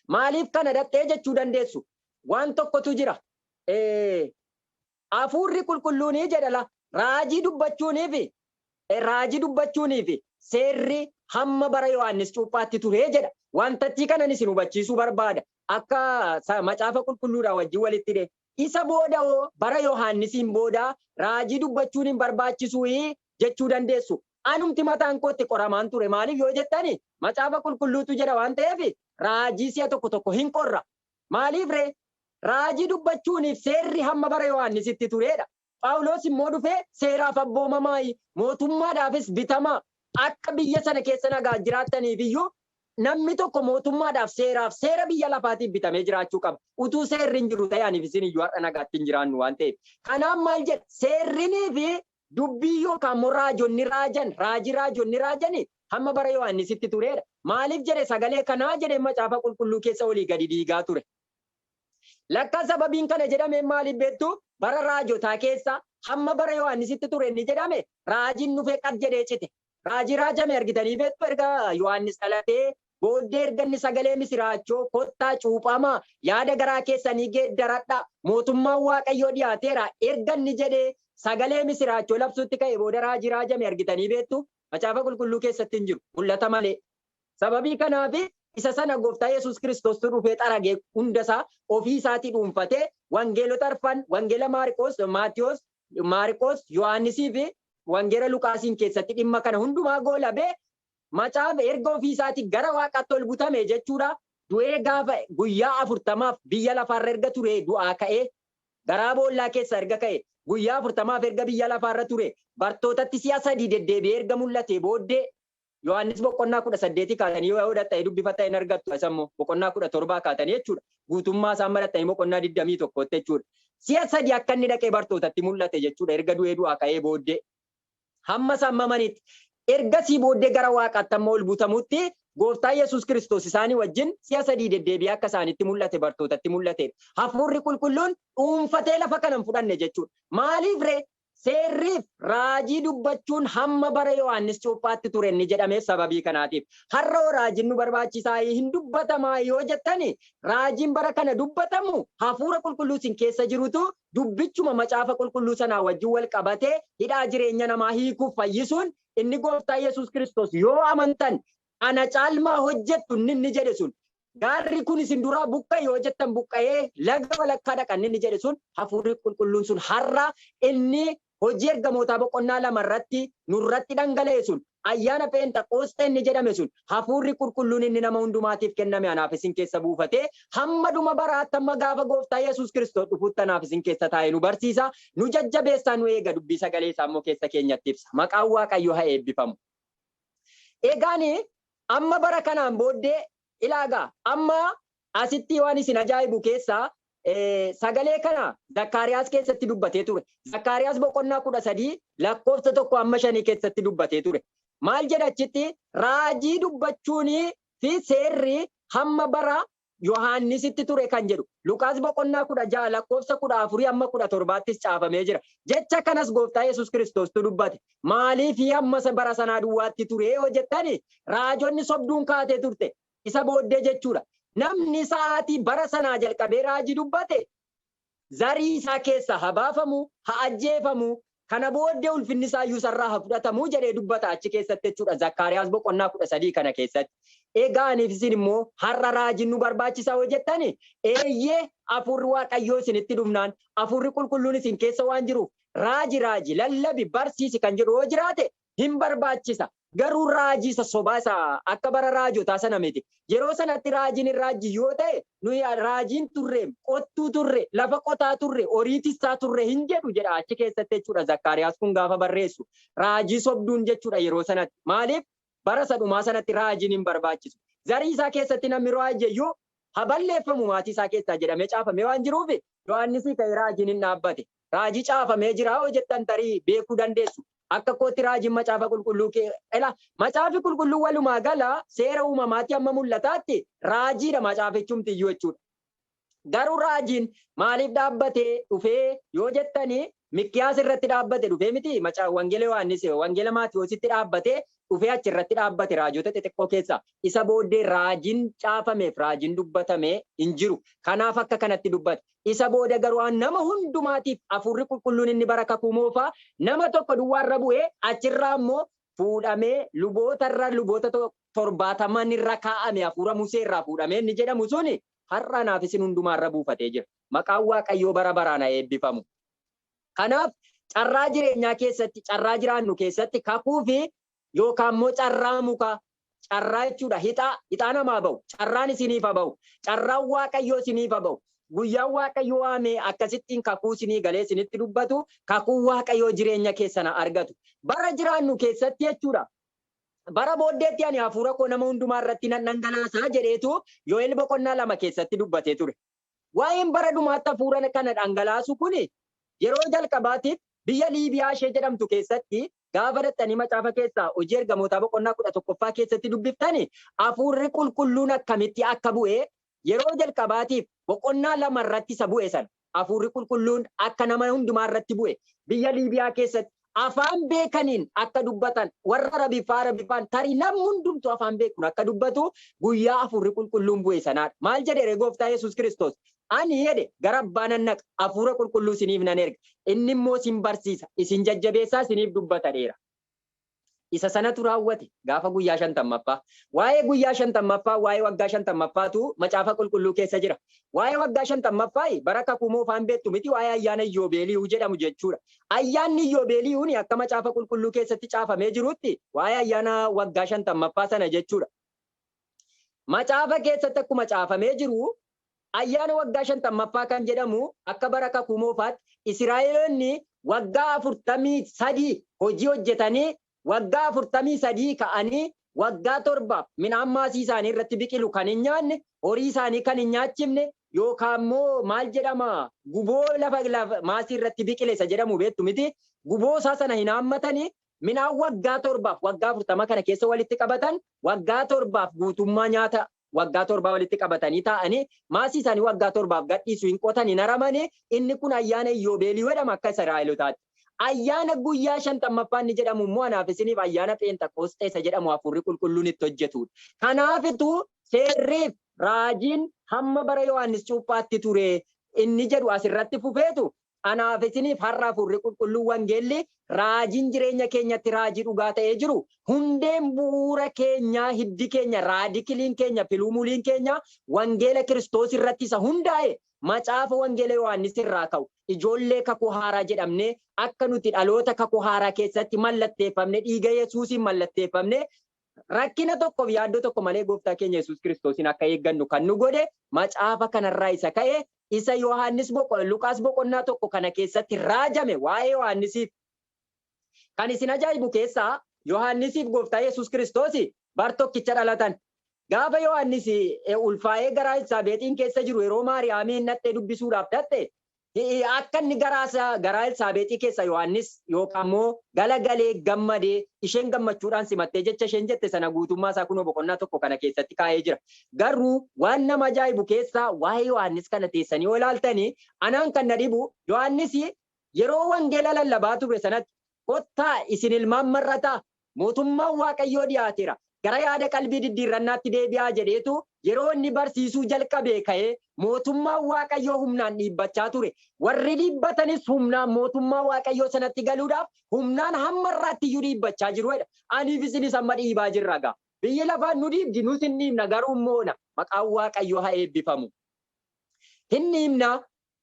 Maaliif kana dhaqxee jechuu dandeessu? Waan tokkotu jira. Ee, Hafuurri Qulqulluunii jedha la, raajii dubbachuunii fi e, raajii dubbachuunii fi seerri hamma bara Yohaannis Cuuphaatti ture jedha. Wantattii kanan isin hubachiisuu barbaada. Akka sa, macaafa qulqulluudhaa wajjin walitti hidhee. Isa booda hoo? Bara Yohaannisiin booda raajii dubbachuun hin barbaachisui? jechuu dandeessu. Anumti mataan koo itti qoramaan ture. Maaliif yoo jettan, Macaafa Qulqulluutu jedha waan ta'eef raajii si'a tokko tokko hin qorra. Maaliif ree? Raajii dubbachuuniif seerri hamma bara Yohaannisitti turedha. Phaawulos immoo dhufee seeraaf abboomamaayi, mootummaadhaafis bitamaa, akka biyya sana keessa nagaan jiraattaniif iyyuu namni tokko mootummaadhaaf, seeraaf, seera biyya lafaatiif bitamee jiraachuu qaba. Utuu seerri hin jiru ta'ee aniif isin iyyuu har'a nagaatti hin jiraannu waan ta'eef. Kanaaf maal jedha? Seerrinii fi dubbiin yookaan immoo raajonni raajan, raajii raajonni raajani hamma bara Yohaannisitti tureera. Maaliif jedhe sagalee kanaa jedhee macaafa qulqulluu keessa olii gadi diigaa ture. Lakka sababiin kana jedhameen maaliif beektu? Bara raajotaa keessa hamma bara Yohaannisitti ture inni jedhame raajiin dhufee qad jedhee cite. Raajii raajame argitanii beektu erga Yohaannis dhalatee booddee erga inni sagalee misiraachoo kottaa cuuphamaa yaada garaa keessanii geeddaradhaa mootummaan Waaqayyoo dhiyaateera erga inni jedhee sagalee misiraachoo labsuutti ka'e booda raajii raajame argitanii beektu? Macaafa qulqulluu keessatti hin jiru. Mul'ata malee. Sababii kanaafi isa sana Gooftaa Yesuus Kiristoostu dhufee xarage hunda isaa ofii isaatii dhuunfatee Wangeelota arfan Wangeela Maariqoos, Maatiwoos, Maariqoos, Yohaannisii fi Wangeela Luqaasiin keessatti dhimma kana hundumaa goolabee Macaafa erga ofii isaatii gara waaqaatti ol butame jechuudha. Du'ee gaafa guyyaa afurtamaaf biyya lafaa irra erga turee du'aa ka'ee garaa boollaa keessaa erga ka'e guyyaa afurtamaaf erga biyya lafaa irra ture bartootatti si'a sadii deddeebi'ee erga mul'atee booddee, Yohaannis boqonnaa 18 kaatanii yoo yoo dhaxxanii dubbifattan hin argattu isa immoo boqonnaa 17 kaatanii jechuudha. Guutummaa isaa amma dhaxxanii boqonnaa 21 tti jechuudha. Si'a sadi akka inni dhaqee bartootatti mul'ate jechuudha erga du'ee du'aa ka'ee booddee. Hamma isaan mamanitti. Ergasii booddee gara waaqaatti amma ol butamutti gooftaa Yesuus Kiristoos isaanii wajjin si'a sadii deddeebi'ee akka isaanitti mul'ate bartootatti mul'ateedha. Hafuurri qulqulluun dhuunfatee lafa kana hin fudhanne jechuudha. Maaliif ree? Seerriif raajii dubbachuun hamma bara Yohaannis Cuuphaatti ture inni jedhameef sababii kanaatiif. Har'a hoo raajiin nu barbaachisaayi? Hin dubbatamaa yoo jettani, raajiin bara kana dubbatamu Hafuura Qulqulluu isin keessa jirutu dubbichuma Macaafa Qulqulluu sanaa wajjin wal qabatee hidhaa jireenya namaa hiikuuf fayyisuun inni Gooftaa Yesuus Kiristoos yoo amantan ana caalmaa hojjettu inni inni jedhe sun gaarri kun isin duraa buqqa'e yoo jettan buqqa'ee laga walakkaa dhaqa inni jedhe sun hafuurri qulqulluun sun har'a inni hojii ergamootaa boqonnaa lama irratti nurratti dhangala'e sun ayyaana pheenxaqoosxee inni jedhame sun hafuurri qulqulluun inni nama hundumaatiif kenname anaaf isin keessa buufatee hamma dhuma baraatti hamma gaafa gooftaa yesus kiristoos dhufuutti anaaf isin keessa taa'ee nu barsiisa nu jajjabeessaa nu eega dubbii sagalee isaa immoo keessa keenyatti ibsa maqaan waaqayyo haa eebbifamu. Egaan Amma bara kanaan booddee ilaa gaa amma asittii waan isin ajaa'ibu keessaa sagalee kana Zakkaariyaas keessatti dubbatee ture. Zakkaariyaas boqonnaa 13 lakkoofsa 1 amma 5 keessatti dubbatee ture. Maal jedha achitti raajii dubbachuunii fi seerri hamma bara Yohaannisitti ture kan jedhu Luqaas boqonnaa 16 lakkoofsa 14 hamma 17ttis caafamee jira. Jecha kanas Gooftaa Yesuus Kiristoostu dubbate. Maaliif hamma isa bara sanaa duwwaatti ture yoo jettan, raajonni sobduun kaatee turte. Isa booddee jechuudha. Namni sa'aatii bara sanaa jalqabee raajii dubbate zarii isaa keessaa ha baafamu, ha ajjeefamu, kana booddee ulfinni isaa iyyuu isarraa ha fudhatamu jedhee dubbata achi keessatti jechuu dha, Zakkaariyaas boqonnaa 13 kana keessatti. Egaa aniif isin immoo har'a raajiin nu barbaachisaa yoo jettani, eeyyee Hafuurri Waaqayyoo isinitti dhufnaan, Hafuurri Qulqulluun isin keessa waan jiruuf, raaji raaji, lallabi, barsiisi kan jedhu yoo jiraate, hin barbaachisa. Garuu raajii isa sobaa isa akka bara raajotaa sana miti. Yeroo sanatti raajiin hin raajji yoo ta'e nuyi raajiin turreem, qottuu turre, lafa qotaa turre, horii tissaa turre hin jedhu jedha achi keessatti jechuudha Zakkaariyaas kun gaafa barreessu. Raajii sobduun jechuudha yeroo sanatti. Maaliif bara isa dhumaa sanatti raajiin hin barbaachisu. Zarii isaa keessatti namni raajje iyyuu ha balleeffamu maatii isaa keessaa jedhamee caafamee waan jiruuf Yohaannisii ka'ee raajiin hin dhaabbate. Raajii caafamee jiraa hoo jettan tarii beekuu dandeessu. Akka kootti raajiin macaafa qulqulluu kee ela. Macaafi qulqulluu walumaa gala seera uumamaatti amma mul'ataatti raajiidha macaafichumti iyyuu jechuudha. Garuu raajiin maaliif dhaabbatee dhufee yoo jettani Mikkiyaas irratti dhaabbate dhufee miti macaa wangeela Yohaannis wangeela Maatiyoositti dhaabbatee dhufee achi irratti dhaabbate raajota xixiqqoo keessaa isa booddee raajiin caafameef raajiin dubbatame hin jiru. Kanaaf akka kanatti dubbate. Isa booda garuu an nama hundumaatiif Hafuurri Qulqulluun inni bara Kakuu Moofaa nama tokko duwwaa irra bu'ee, achi irraa immoo fuudhamee luboota irra, luboota to, torbaataman irra kaa'ame, Hafuura Musee irraa fuudhamee inni jedhamu suni har'a anaaf isin hundumaa irra buufatee jira. Maqaan Waaqayyoo bara baraan haa eebbifamu. Kanaaf, carraa jireenyaa keessatti, carraa jiraannu keessatti Kakuu fi yookaan immoo carraa mukaa, carraa jechuudha hixaa, hixaa namaa ba'u, carraan isiniif haa ba'u, carraan Waaqayyoo isiniif haa ba'u. Guyyaan Waaqayyo waamee akkasittiin kakuu isinii galee isinitti dubbatu, kakuun Waaqayyoo jireenya keessan haa argatu. Bara jiraannu keessatti jechuudha, bara booddeetti ani hafuura koo nama hundumaa irratti nan dhangalaasa jedheetu Yo'el boqonnaa lama keessatti dubbatee ture. Waa'een bara dhumaatti hafuura kana dhangalaasuu kun yeroo jalqabaatiif biyya Liibiyaa ishee jedhamtu keessatti gaafa dhaqxanii macaafa keessaa Hojii Ergamootaa boqonnaa 11ffaa keessatti dubbiftani hafuurri qulqulluun akkamitti akka bu'e yeroo jalqabaatiif boqonnaa 2 irratti isa bu'e sana hafuurri qulqulluun akka nama hundumaa irratti bu'e biyya Liibiyaa keessatti afaan beekaniin akka dubbatan warra rabiffaa rabiffaan tari namni hundumtu afaan beekun akka dubbatu guyyaa afurri qulqulluun bu'e sanaadha maal jedhe ree gooftaa yesus kiristoos ani jedhe gara abbaa nan naqa afuura qulqulluu isiniif nan erga inni immoo isin barsiisa isin jajjabeessaa isiniif dubbata dheera isa sanatu raawwate gaafa guyyaa shantammaffaa. Waa'ee guyyaa shantammaffaa, waa'ee waggaa shantammaffaatu Macaafa Qulqulluu keessa jira. Waa'ee waggaa shantammaffaayi bara Kakuu Moofaa hin beektu miti waa'ee ayyaana Iyyoobeeliyuu jedhamu jechuudha. Ayyaanni Iyyoobeeliyuuni akka Macaafa Qulqulluu keessatti caafamee jiruutti waa'ee ayyaana waggaa shantammaffaa sana jechuudha. Macaafa keessatti akkuma caafamee jiru Ayyaana waggaa shantammaffaa kan jedhamu akka bara Kakuu Moofaatti Isiraa'eloonni waggaa 43 hojii hojjetanii waggaa 43 ka'anii waggaa torba midhaan maasii isaanii irratti biqilu kan hin nyaanne, horii isaanii kan hin nyaachifne yookaan immoo maal jedhama guboo lafa maasii irratti biqile isa jedhamu beektu miti guboo isaa sana hin haammatanii midhaan waggaa torbaaf waggaa 40 kana keessa walitti qabatan waggaa torbaaf guutummaa nyaata waggaa torbaa walitti qabatanii taa'anii maasii isaanii waggaa torbaaf gadhiisu hin qotan hin haramani inni kun ayyaana iyyoobeeliyuu jedhama akka Israa'elotaatti. Ayyaana guyyaa shantammaffaa inni jedhamu immoo anaaf isiniif ayyaana pheenxaqoosxee isa jedhamu hafuurri qulqulluun itti hojjetudha. Kanaafitu seerriif raajiin hamma bara Yohaannis cuuphaatti ture inni jedhu asirratti fufeetu Anaaf isiniif har'a Hafuurri Qulqulluun Wangeelli, Raajiin jireenya keenyatti Raajii dhugaa ta'ee jiru, hundeen bu'uura keenyaa, hiddi keenya, raadikiliin keenya, piluumuliin keenya Wangeela Kiristoos irratti isa hundaa'e, Macaafa Wangeela Yohaannis irraa ka'u, ijoollee Kakuu Haaraa jedhamnee akka nuti dhaloota Kakuu Haaraa keessatti mallatteeffamne, dhiiga Yesuusiin mallatteeffamne, Rakkina tokkoof yaaddoo tokko malee Gooftaa keenya Yesuus Kiristoosiin akka eeggannu kan nu godhe macaafa kanarraa isa ka'e, isa Yohaannis boqo, Luqaas boqonnaa 1 kana keessatti raajame waa'ee Yohaannisiif. Kan isin ajaa'ibu keessaa Yohaannisiif Gooftaa Yesuus Kiristoos bar tokkicha dhalatan. Gaafa Yohaannis ulfaa'ee garaa Elsaabeexiin keessa jiru yeroo Maariyaamiin dhaqxee dubbisuudhaaf dhaqxe, Hi'i akka inni garaa Elsaabeexii keessaa Yohaannis yookaan immoo galagalee, gammade, isheen gammachuudhaan simattee jecha isheen jette sana guutummaa isaa kunoo boqonnaa tokko kana keessatti kaa'ee jira. Garruu waan nama ajaa'ibu keessaa waa'ee Yohaannis kana teessanii yoo ilaaltani anaan kan na dhibu Yohaannis yeroo wangeela lallabaa ture sanatti Kottaa, isin ilmaan mar'ataa! Mootummaan Waaqayyoo dhiyaateera. Gara yaada qalbii diddiirrannaatti deebi'aa jedheetu yeroo inni barsiisuu jalqabee ka'ee Mootummaan Waaqayyoo humnaan dhiibbachaa ture. Warri dhiibbatanis humnaan Mootummaa Waaqayyoo sanatti galuudhaaf humnaan hamma har'aattiyyuu dhiibbachaa jiru jedha. Aniif isinis amma dhiibaa jirra gaa. Biyyi lafaa nu dhiibdi, nus hin dhiibna, garuu hin moona. Maqaan Waaqayyoo haa eebbifamu! Hin dhiibna,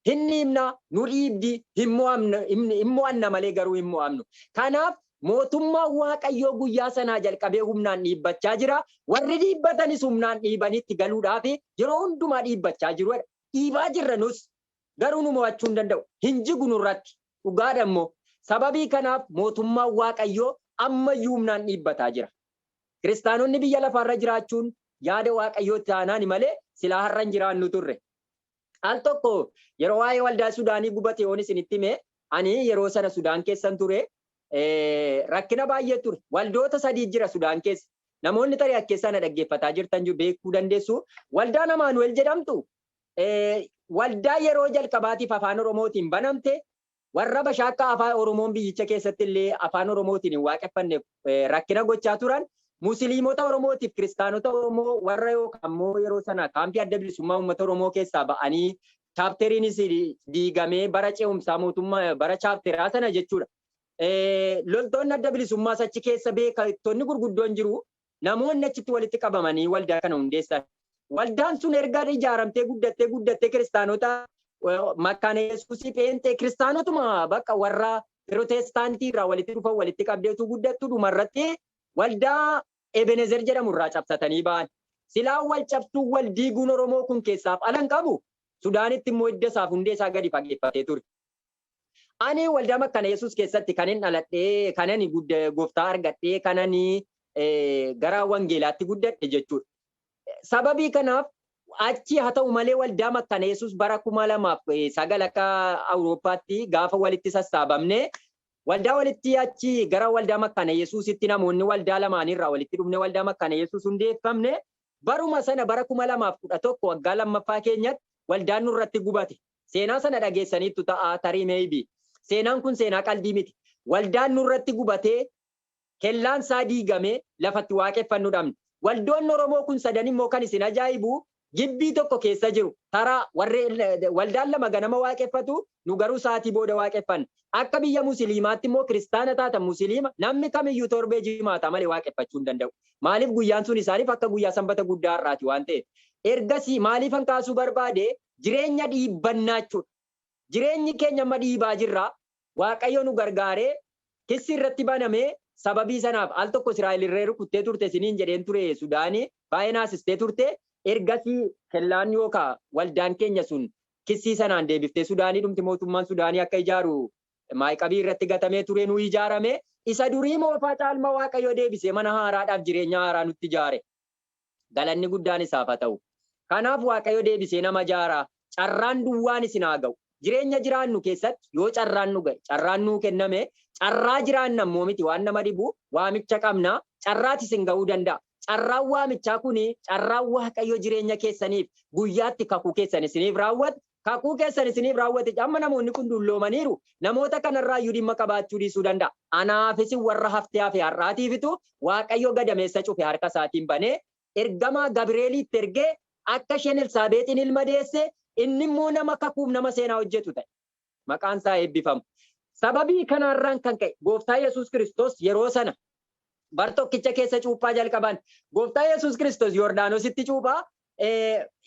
Hin dhiibna, nu dhiibdi, hin mo'amna, hin hin mo'anna malee garuu hin mo'amnu. Kanaaf mootummaan Waaqayyoo guyyaa sanaa jalqabee humnaan dhiibbachaa jira. Warri dhiibbatanis humnaan dhiibanii itti galuudhaaf yeroo hundumaa dhiibbachaa jiru jedha. Dhiibaa jirra nus. Garuu nu mo'achuu hin danda'u. Hin jigu nurratti. Dhugaadha immoo. Sababii kanaaf mootummaan Waaqayyoo amma iyyuu humnaan dhiibbataa jira. Kiristaanonni biyya lafaa irra jiraachuun yaada Waaqayyoo taanaani malee silaa har'a hin jiraannu turre. Al tokko yeroo waa'ee waldaa Sudaanii gubate yoon isinitti hime, ani yeroo sana Sudaan keessan ture, rakkina baay'ee ture. Waldoota sadii jira Sudaan keessa. Namoonni tarii as keessaa na dhaggeeffataa jirtan jiru beekuu dandeessu. Waldaan Amaanu'el jedhamtu waldaa yeroo jalqabaatiif afaan Oromootiin banamte, Warra bashaakkaa Afaan Oromoon biyyicha keessatti illee Afaan Oromootiin hin waaqeffanneef rakkina gochaa turan Musiliimota Oromootiif Kiristaanota Oromoo warra yookaan immoo yeroo sana kaampii Adda Bilisummaa Uummata Oromoo keessaa ba'anii chaapteriinis diigamee bara ce'umsaa mootummaa bara chaapteraa sana jechuudha. Loltoonni Adda Bilisummaas achi keessa beektonni gurguddoon jiru. Namoonni achitti walitti qabamanii waldaa kana hundeessan. Waldaan sun erga ijaaramtee guddattee guddattee kiristaanota makkaana Yesuusii pheenxee kiristaanotuma bakka warra piroteestaantii irraa walitti dhufan walitti qabdee utuu guddattu dhumarratti waldaa Ebenezer jedhamu irraa cabsatanii ba'an. Silaa wal cabsuun wal diiguun Oromoo kun keessaaf ala hin qabu. Sudaanitti immoo hidda isaaf hundee isaa gadi fageeffatee ture. Ani waldaa makkana Yesuus keessatti kanin dhaladhe, kanani gudda gooftaa argadhe, kanani eh, gara wangeelaatti guddadhe jechuudha. Sababii kanaaf achi haa ta'u malee waldaa makkana Yesuus bara kuma lamaaf eh, sagal akka Awurooppaatti gaafa walitti sassaabamne waldaa walitti achi gara waldaa makkana Yesuusitti namoonni waldaa lamaanirraa walitti dhufne waldaa makkana Yesuus hundeeffamne baruma sana bara kuma lamaaf kudha tokko waggaa lammaffaa keenyatti waldaan nurratti gubate. Seenaa sana dhageessaniittu ta'a tarii maybe. Seenaan kun seenaa qaldii miti. Waldaan nurratti gubatee, kellaan isaa diigamee, lafa itti waaqeffannu dhabne. Waldoonni Oromoo kun sadan immoo kan isin ajaa'ibu gibbii tokko keessa jiru. Taraa warri waldaan lama ganama waaqeffatu, nu garuu sa'aatii booda waaqeffanna. Akka biyya Musiliimaatti immoo kiristaana taatan Musiliima, namni kamiyyuu torbee Jimaataa malee waaqeffachuu hin danda'u. Maaliif guyyaan sun isaaniif akka guyyaa sanbata guddaa har'aati waan ta'eef. Ergasii maaliifan kaasuu barbaade jireenya dhiibbannaa jechuudha. Jireenyi keenya amma dhiibaa jirra. Waaqayyo nu gargaaree kissi irratti banamee sababii sanaaf al tokko Israa'el irree rukuttee turte isiniin jedheen ture Sudaani baay'ee naasistee turte. Ergasii kellaan yookaa waldaan keenya sun kissii sanaan deebiftee Sudaanii dhumti mootummaan Sudaanii akka ijaaru maayqabii irratti gatamee ture nuu ijaarame. Isa durii moofaa caalma Waaqayyo deebisee mana haaraadhaaf jireenya haaraa nutti ijaare. Galanni guddaan isaaf haa ta'u. Kanaaf Waaqayyo deebisee nama jaara. Carraan duwwaan isin haa ga'u. Jireenya jiraannu keessatti yoo carraan nu ga'e, carraan nuu kenname, carraa jiraanna immoo miti waan nama dhibu, waamicha qabna, carraati isin ga'uu danda'a. Carraan waamichaa kuni carraa Waaqayyo jireenya keessaniif guyyaatti kakuu keessan isiniif raawwatu Kakuu keessan isiniif raawwate. Amma namoonni kun dulloomaniiru. Namoota kanarraayyuu dhimma qabaachuu dhiisuu danda'a. Anaaf isin warra haftee hafe har'aatiifitu Waaqayyo gadameessa cufe harka isaatiin banee, ergamaa Gabireelii itti ergee akka isheen Elsaabeexiin ilma deesse, inni immoo nama kakuuf nama seenaa hojjetu ta'e. Maqaan isaa haa eebbifamu. Sababii kanaarraan kan ka'e Gooftaa Yesuus Kiristoos yeroo sana bar tokkicha keessa cuuphaa jalqaban. Gooftaa Yesuus Kiristoos Yordaanositti cuuphaa,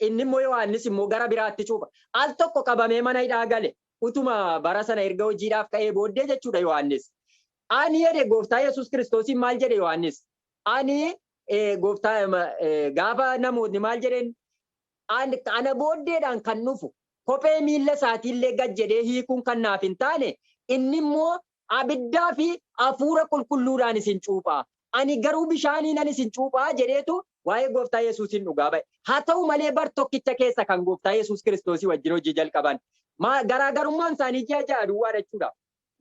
inni immoo Yohaannis immoo gara biraatti cuupha. Al tokko qabamee mana hidhaa gale. Utuma bara sana erga hojiidhaaf ka'ee booddee jechuudha Yohaannis. Ani jedhe gooftaa Yesuus Kiristoosiin maal jedhe Yohaannis? Ani gooftaa gaafa namootni maal jedheen ana booddeedhaan kan dhufu kophee miilla isaatiillee gad jedhee hiikuun kan naaf hin taane inni immoo Abiddaa fi Hafuura Qulqulluudhaan isin cuupha, ani garuu bishaaniinan isin cuupha jedheetu waa'ee Gooftaa Yesuusiin dhugaa ba'e. Haa ta'u malee bar tokkicha keessa kan Gooftaa Yesuus Kiristoosii wajjin hojii jalqaban. Maa, garaagarummaan isaanii ji'a ja'a duwwaa dha jechuu dha.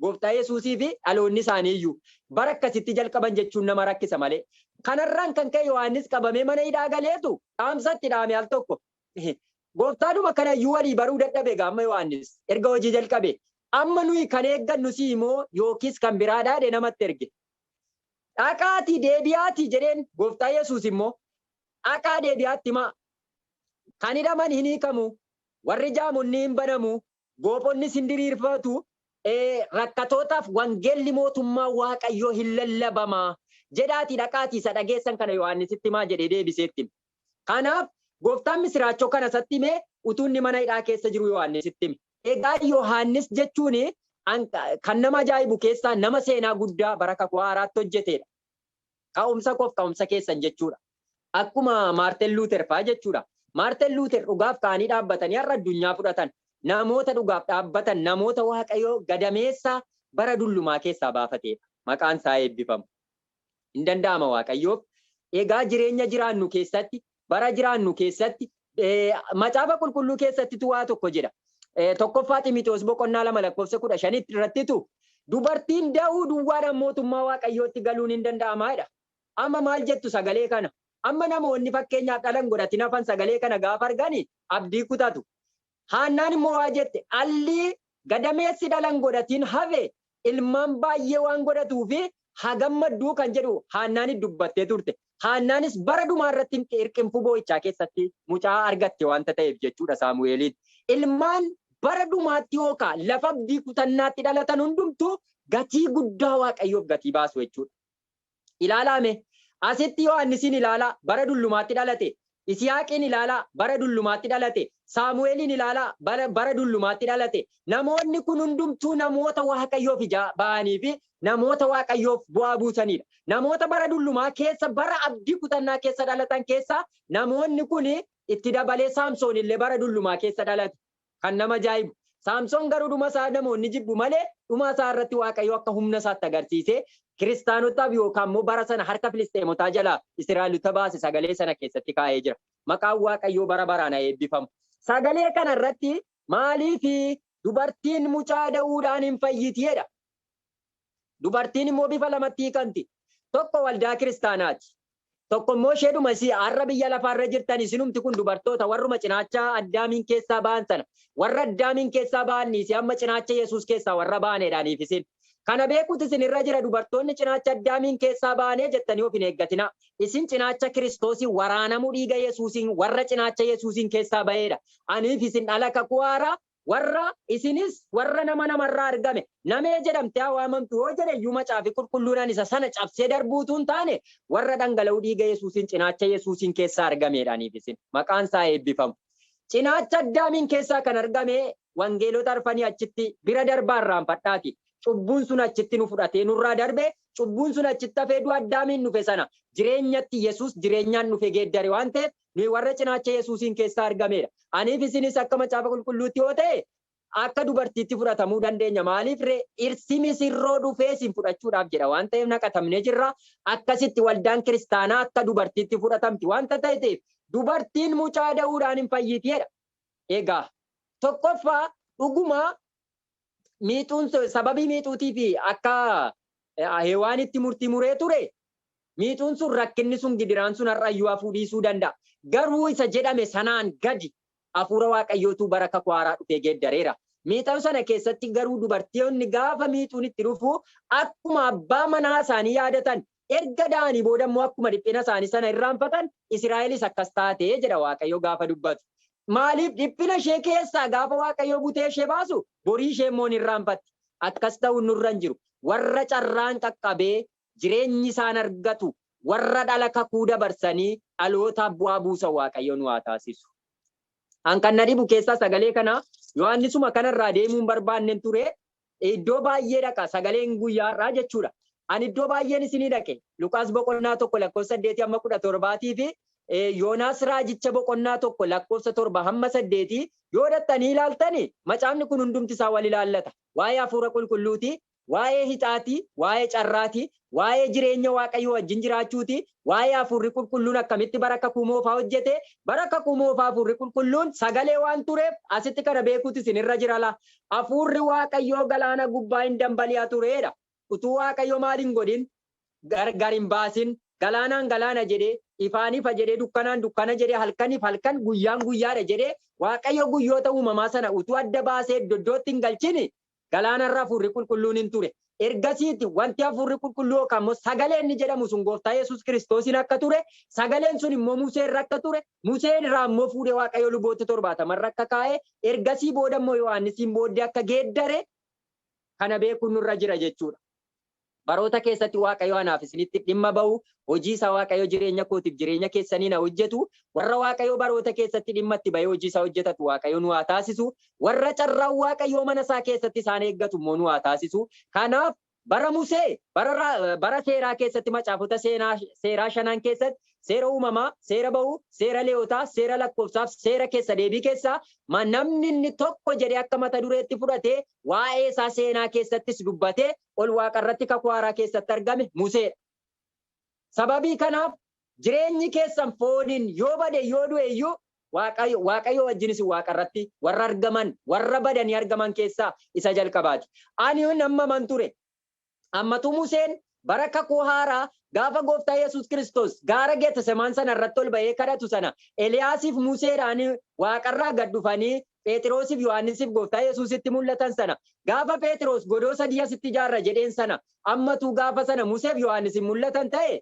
Gooftaa Yesuusii fi dhaloonni isaanii iyyuu, bara akkasitti jalqaban jechuun nama rakkisa malee. Kana irraan kan ka'e Yohaannis qabamee mana hidhaa galeetu dhaamsa itti dhaame al tokko. Gooftaadhuma kana iyyuu walii baruu dadhabe egaa amma Yohaannis erga hojii jalqabe amma nuyi kan eeggannu si'i moo yookiis kan biraa dhaadhe namatti erge. Dhaqaatii deebi'aatii jedheen gooftaa Yesuus immoo dhaqaa deebi'aatti himaa. Kan hidhaman hin hiikamu, warri jaamonni hin banamu, goophonnis hin diriirfatu, rakkatootaaf wangeelli mootummaa Waaqayyoo hin lallabama jedhaatii dhaqaatii isa dhageessan kana Yohaannisitti himaa jedhee deebisee itti hime. Kanaaf, Gooftaan misiraachoo kana isatti hime utuu inni mana hidhaa keessa jiruu Yohaannisitti hime. Egaa Yohaannis jechuun kan nama ajaa'ibu keessaa nama seenaa guddaa bara Kakuu Haaraatti hojjeteedha. Ka'umsa koof ka'umsa keessan jechuudha. Akkuma Maartin Luuter faa jechuudha. Maartin Luuter dhugaaf ka'anii dhaabbatanii har'a addunyaa fudhatan. Namoota dhugaaf dhaabbatan, namoota Waaqayyo gadameessa bara dullumaa keessaa baafateedha. Maqaan isaa eebbifamu. Hin danda'ama Waaqayyoof. Egaa jireenya jiraannu keessatti, bara jiraannu keessatti, Macaafa Qulqulluu keessattitu waa tokko jedha. Tokkoffaa Ximitewoos boqonnaa 2 lakkoofsa 15 irrattitu dubartiin da'uu duwwaadhaan mootummaa Waaqayyootti galuun hin danda'ama jedha. Amma maal jettu sagalee kana? Amma namoonni fakkeenyaaf dhala hin godhatin hafan sagalee kana gaafa argani abdii kutatu. Haannaan immoo waa jette, Alli gadameessi dhala hin godhatiin hafe ilmaan baay'ee waan godhatuuf haa gammadduu kan jedhu Haannaanis dubbattee turte. Haannaanis bara dhumaa irratti hirqinfuu boo'ichaa keessatti mucaa argatte wanta ta'eef jechuudha Saamu'eeliin. Ilmaan bara dhumaatti yookaa lafa abdii kutannaatti dhalatan hundumtuu gatii guddaa Waaqayyoof gatii baasu jechuudha. Ilaalaa mee! Asitti Yohaannisiin ilaalaa, bara dullumaatti dhalate. Isihaaqiin ilaalaa, bara dullumaatti dhalate. Saamu'eeliin ilaalaa, bara, bara dullumaatti dhalate. Namoonni kun hundumtuu namoota Waaqayyoof ijaa ba'anii fi namoota Waaqayyoof bu'aa buusanii dha. Namoota bara dullumaa keessa, bara abdii kutannaa keessa dhalatan keessaa namoonni kun itti dabalee Saamsoon illee bara dullumaa keessa dhalate. Kan nama ajaa'ibu, Saamsoon garuu dhuma isaa namoonni jibbu malee, dhumaa isaa irratti Waaqayyo akka humna isaatti agarsiisee, Kiristaanotaaf yookaan immoo bara sana harka Filisxeemotaa jalaa Israa'elota baase sagalee sana keessatti kaa'ee jira. Maqaan Waaqayyoo bara baraan haa eebbifamu! Sagalee kana irratti, Maaliif dubartiin mucaa da'uudhaan hin fayyiti? jedha. Dubartiin immoo bifa lamatti hiikamti. Tokko waldaa kiristaanaati. Tokko immoo isheedhuma isii har'a biyya lafaarra jirtan isinumti kun dubartoota warruma cinaachaa addaamiin keessaa ba'an sana warra addaamiin keessaa ba'an dhiisee amma cinaacha Yesuus keessaa warra ba'anedha aniif isin. Kana beekuutu isin irra jira dubartoonni cinaacha addaamiin keessaa ba'anee jettanii of hin eeggatinaa. Isin cinaacha Kiristoosiin waraanamuu dhiiga Yesuusiin warra cinaacha Yesuusiin keessaa ba'eedha. Aniif isin dhala kakuu haaraa Warra, Isinis warra nama nama irraa argame, namee jedhamtee haa waamamtu yoo jedhe iyyuu Macaafi Qulqulluun ani isa sana cabsee darbuu utuu hin taane, warra dhangala'uu dhiiga Yesuusiin cinaacha Yesuusiin keessaa argamee dha. Aniif isin. Maqaan isaa haa eebbifamu. Cinaacha Addaamiin keessaa kan argame Wangeelota arfanii achitti bira darbaa irraanfadhaatii. Cubbuun sun achitti nu fudhatee nurraa darbe, cubbuun sun achitti hafee du'a Addaamiin dhufe sana jireenyatti Yesuus jireenyaan dhufe geeddare waan ta'eef Nuyi warra cinaacha Yesuusiin keessaa argameedha. Aniif isinis akka Macaafa Qulqulluutti yoo ta'e, akka dubartiitti fudhatamuu dandeenya. Maaliif ree? Dhirsi misirroo dhufee isin fudhachuudhaaf jedha waan ta'eef naqatamnee jirra. Akkasitti waldaan kiristaanaa akka dubartiitti fudhatamti wanta ta'eteef, dubartiin mucaa da'uudhaan hin fayyiti jedha. Egaa, tokkoffaa, dhuguma miixuun sun sababii miixuutiif akka eh, hewaanitti murtii muree ture miixuun sun rakkinni sun gidiraan sun har'a iyyuu hafuu dhiisuu danda'a. Garuu isa jedhame sanaan gadi hafuura waaqayyootu bara kakuu haaraa dhufee geeddareera. Miixan sana keessatti garuu dubartoonni gaafa miixuun itti dhufu akkuma abbaa manaa isaanii yaadatan Erga da'anii booda immoo akkuma dhiphina isaanii sana irraanfatan, Isiraa'elis akkas taate jedha Waaqayyo gaafa dubbatu. Maaliif? Dhiphina ishee keessaa gaafa Waaqayyo butee ishee baasu borii ishee immoo ni irraanfatti. Akkas ta'uun nurra hin jiru. Warra carraan qaqqabee jireenyi isaan argatu, warra dhala kakuu dabarsanii dhalootaaf bu'aa buusan Waaqayyo nu haa taasisu. An kan na dhibu keessaa sagalee kana Yohaannisuma kana irraa deemuu hin barbaadnen ture. Iddoo baay'ee dhaqa, sagaleen guyyaa har'aa jechuu dha. Ani iddoo baay'een isinii dhaqe, Luqaas boqonnaa 1 lakkoofsa 8 hamma 17 fi Yoonaas raajicha boqonnaa 1 lakkoofsa 7 hamma 8 yoo dhaxxanii ilaaltani macaafni kun hundumti isaa wal ilaallata. Waa'ee Hafuura Qulqulluuti, waa'ee hixaati, waa'ee carraati, Waa'ee jireenya Waaqayyoo wajjin jiraachuuti, waa'ee Hafuurri Qulqulluun akkamitti bara Kakuu Moofaa hojjete, bara Kakuu Moofaa Hafuurri Qulqulluun sagalee waan tureef asitti kana beekuutu isin irra jira laa. Hafuurri Waaqayyoo galaana gubbaa in dambali'a ture dha. Utuu Waaqayyo maal hin godhin? Gar gar hin baasin. Galaanaan galaana jedhe, ifaan ifa jedhe, dukkanaan dukkana jedhe, halkaniif halkan, guyyaan guyyaa dha jedhe, Waaqayyo guyyoota uumamaa sana utuu adda baasee iddo iddootti hin galchin Galaana irra Hafuurri Qulqulluun in ture. Ergasiiti wanti Hafuurri Qulqulluu yookaan immoo Sagalee inni jedhamu sun Gooftaa Yesuus Kiristoosiin akka ture, Sagaleen sun immoo Musee irra akka ture, Musee irraa immoo fuudhee Waaqayyo Luboota 70 irra akka kaa'e, ergasii booda immoo Yohaannisiin booddee akka geeddare kana beekuun nurra jira jechuudha. Baroota keessatti Waaqayyo anaaf isinitti dhimma ba'u, hojii isaa Waaqayyo jireenya kootiif jireenya keessaniin haa hojjetu, warra Waaqayyo baroota keessatti dhimma itti ba'ee hojii isaa hojjetatu Waaqayyo nu haa taasisu, warra carraan Waaqayyoo mana isaa keessatti isaan eeggatu immoo nu haa taasisu. Kanaaf bara Musee, bara, ra- bara seeraa keessatti macaafota seenaa, seeraa shanan keessatti seera uumamaa, seera ba'uu, seera leewotaa, seera lakkoofsaaf, seera keessa deebii keessaa ma namni inni tokko jedhee akka mata dureetti fudhatee Waa'ee isaa seenaa keessattis dubbatee ol waaqa irratti kakuu haaraa keessatti argame Musee dha. Sababii kanaaf jireenyi keessan fooniin yoo bade yoo du'e iyyuu Waaqayyo Waaqayyoo wajjin isin waaqa irratti warra argaman warra badanii argaman keessaa isa jalqabaati. Ani nammaman ture. Ammatu Museen bara Kakuu Haaraa gaafa Gooftaa Yesuus Kiristoos gaara Getesemaan sana irratti ol ba'ee kadhatu sana Eliyaasiif Museedhaan waaqarraa gad dhufanii Pheexiroosiif Yohaannisiif Gooftaa Yesuusitti mul'atan sana gaafa Pheexiroos godoo sadii asitti ijaarra jedheen sana ammatu gaafa sana Museef Yohaannisiin mul'atan ta'e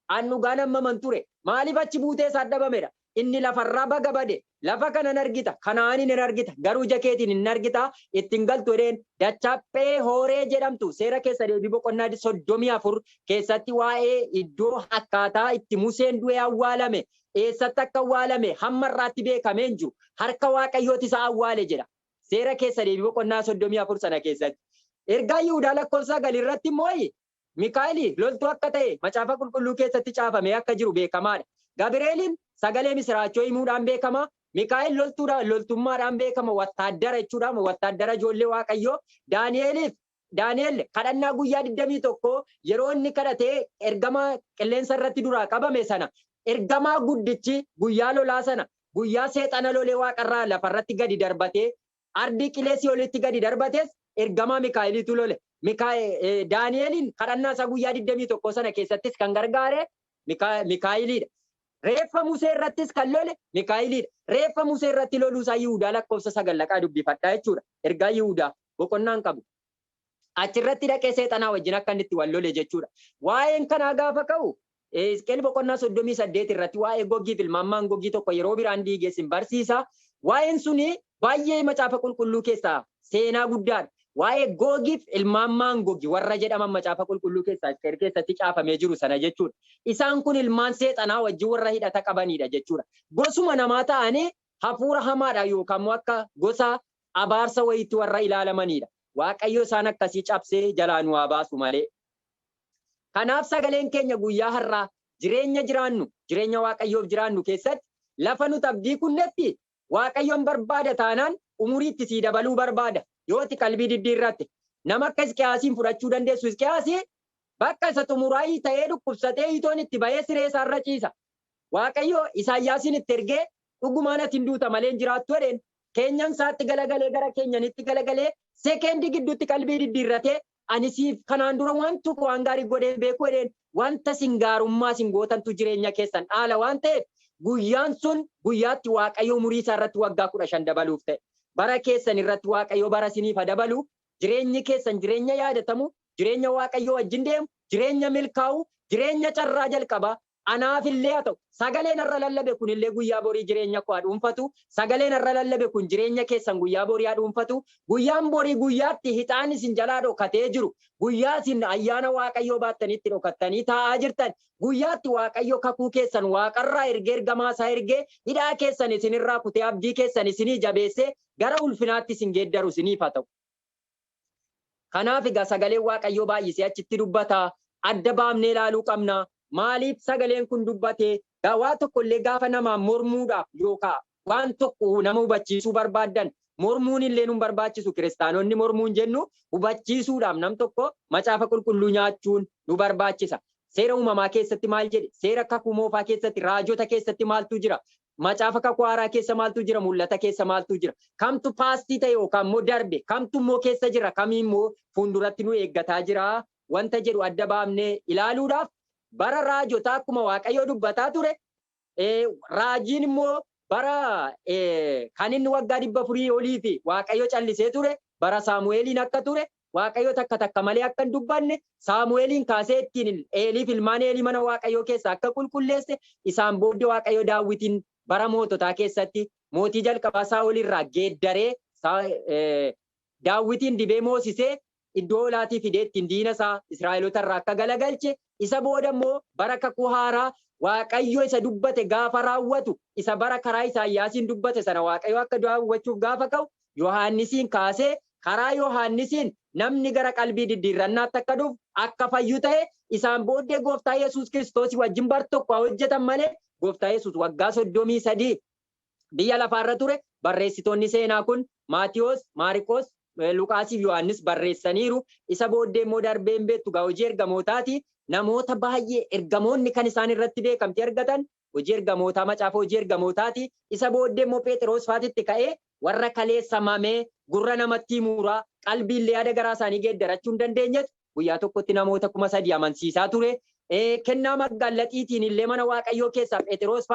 An dhugaan ammaman ture. Maaliif achi buutee isaat dhabamedha. Inni lafarraa baga bade. Lafa kana hin argita, Kana'aaniin hin argita, garuu ija keetiin hin argita, itti hin galtu jedheen. Dachaa Pheehooree jedhamtu, Seera Keessa Deebii boqonnaa 34 keessatti waa'ee iddoo, akkaataa, itti Museen du'ee awwaalame, eessatti akka awwaalame hamma har'aatti beekamee hin jiru. Harka Waaqayyooti isa awwaale jedha. Seera Keessa Deebii boqonnaa 34 sana keessatti. Ergaa Yihudaa lakkoofsa 9 irratti immoo Mikaa'eli loltuu akka ta'e Macaafa Qulqulluu keessatti caafamee akka jiru beekamaa dha. Gabireeliin sagalee misiraachoo himuudhaan beekama. Mikaa'el loltuu dha, loltummaadhaan beekama, wattaaddara jechuu dha, wattaaddara ijoollee Waaqayyoo. Daani'eliif, Daani'el kadhannaa guyyaa 21 yeroo inni kadhatee ergama qilleensa irratti duraa qabame sana, ergamaa guddichi guyyaa lolaa sana, guyyaa seexana lolee waaqa irraa lafa irratti gadi darbatee Ardii qilee Si'olitti gadi darbatees ergamaa Mikaa'eliitu lole. Mikaa, eh, Daani'eliin kadhannaa isaa guyyaa 21 sana keessattis kan gargaare Mikaa, Mikaa'eliidha. Reeffa Musee irrattis kan lole Mikaa'eliidha. Reeffa Musee irratti loluu isaa Yihudaa lakkoofsa 9 dhaqaa dubbifadhaa jechuudha. Ergaa Yihudaa boqonnaan qabu. Achi irratti dhaqee Seexanaa wajjin akka inni itti wal lole jechuu dha. Waa'een kanaa gaafa ka'u, Hisqi'el boqonnaa 38 irratti waa'ee Gogiif ilmaan Maangogii tokko yeroo biraan diige isin barsiisa. Waa'een suni baay'ee macaafa qulqulluu keessaa seenaa guddaa dha. Waa'ee Gogiif ilmaan Maangogi warra jedhaman macaafa qulqulluu keessaa Hisqi'el keessatti caafamee jiru sana jechuu dha. Isaan kun ilmaan Seexanaa wajjin warra hidhata qabanii dha jechuu dha. Gosuma namaa ta'anii hafuura hamaadhaan yookaan immoo akka gosa abaarsa wayiitti warra ilaalamaniidha. Waaqayyo isaan akkasii cabsee jalaa nu haa baasu malee. Kanaaf sagaleen keenya guyyaa har'aa jireenya jiraannu, jireenya Waaqayyoof jiraannu keessatti lafa nuti abdii kunnetti Waaqayyoon barbaada taanaan umurii itti sii dabaluu barbaada. Yoo ati qalbii diddiirratte. Nama akka Hisqiyaasiin fudhachuu dandeessu Hisqiyaasi bakka isa xumuraa hiita'ee dhukkubsatee hiitoon itti ba'ee siree isaarra ciisa. Waaqayyo Isaayyaasiin itti ergee, Dhugumaan ati hin duuta malee hin jiraattu jedheen. Keenyan isaatti galagalee gara keenyanitti galagalee sekeendii gidduutti qalbii diddiirratee, Ani siif kanaan dura waan tokko waan gaarii godhee hin beeku jedheen. Wanta isin gaarummaa isin gootantu jireenya keessan dhaala waan ta'eef, guyyaan sun guyyaa itti Waaqayyo umurii isaa irratti waggaa 15 dabaluuf ta'e. Bara keessan irratti Waaqayyo bara isiniif haa dabalu, jireenyi keessan jireenya yaadatamu, jireenya Waaqayyoo wajjin deemu, jireenya milkaa'u, jireenya carraa jalqabaa, Anaaf illee haa ta'u, sagaleen har'a lallabe kun illee guyyaa borii jireenya koo haa dhuunfatu, sagaleen har'a lallabe kun jireenya keessan guyyaa borii haa dhuunfatu, guyyaan borii guyyaa itti hixaanni isin jalaa dhokatee jiru, guyyaa isin ayyaana Waaqayyoo baattanii itti dhokattanii taa'aa jirtan, guyyaa itti Waaqayyo kakuu keessan waaqarraa ergee ergamaa isaa ergee hidhaa keessan isin irraa kutee abdii keessan isinii jabeessee gara ulfinaatti isin geeddaru isiniif haa ta'u. Kanaaf egaa sagaleen Waaqayyoo baay'isee achitti dubbata. Adda baafnee ilaaluu qabna. Maaliif sagaleen kun dubbate? Egaa waa tokko illee gaafa namaan mormuudhaaf yookaa waan tokko nama hubachiisuu barbaaddan mormuun illee nun barbaachisu kiristaanonni mormuun jennu hubachiisuudhaaf nam tokko macaafa qulqulluu nyaachuun nu barbaachisa. Seera uumamaa keessatti maal jedhe? Seera kakuu moofaa keessatti raajota keessatti maaltu jira? Macaafa Kakuu Haaraa keessa maaltu jira? Mul'ata keessa maaltu jira? Kamtu paastii ta'e yookaan immoo darbe? Kamtu immoo keessa jira? Kamii immoo fuulduratti nu eeggataa jira? Wanta jedhu adda baafnee ilaaluudhaaf bara raajotaa akkuma Waaqayyoo dubbataa ture, raajiin immoo bara kan inni waggaa dhibba afurii olii fi Waaqayyo callisee ture bara Saamu'eeliin akka ture Waaqayyo takka takka malee akka hin dubbanne, Saamu'eeliin kaasee ittiin Eelii fi ilmaan Eelii mana Waaqayyoo keessaa akka qulqulleesse, isaan booddee Waaqayyo Daawitiin bara moototaa keessatti mootii jalqabaa Saa'ol irraa geeddaree Daawitiin dibee moosisee iddoo olaatii fidee ittiin diina isaa Israa'elota irraa akka galagalche Isa booda immoo bara kakuu haaraa Waaqayyo isa dubbate gaafa raawwatu, isa bara karaa Isaayyaasiin dubbate sana Waaqayyo akka du'aa hubachuuf gaafa ka'u, Yohaannisiin kaasee karaa Yohaannisiin namni gara qalbii diddiirrannaatti akka dhufu, akka fayyu ta'e, isaan booddee Gooftaa Yesuus Kiristoosi wajjin bar tokko haa hojjetan malee Gooftaa Yesuus waggaa 33 biyya lafaa irra ture, barreessitoonni seenaa kun Maatiwoos, Maariqoos, Luqaasii fi Yohaannis barreessaniiru, isa booddee immoo darbee hin beektu egaa hojii ergamootaati, namoota baay'ee ergamoonni kan isaan irratti beekamtii argatan hojii ergamootaa macaafa hojii ergamootaati, isa booddee immoo Pheexiroos faatitti ka'ee warra kaleessa mamee gurra namatti himuuraa qalbii illee yaada garaa isaanii geeddarachuu hin dandeenyetu guyyaa tokkotti namoota kuma sadii amansiisaa ture, kennaa magaallaxiitiin illee mana waaqayyoo keessaa Pheexiroos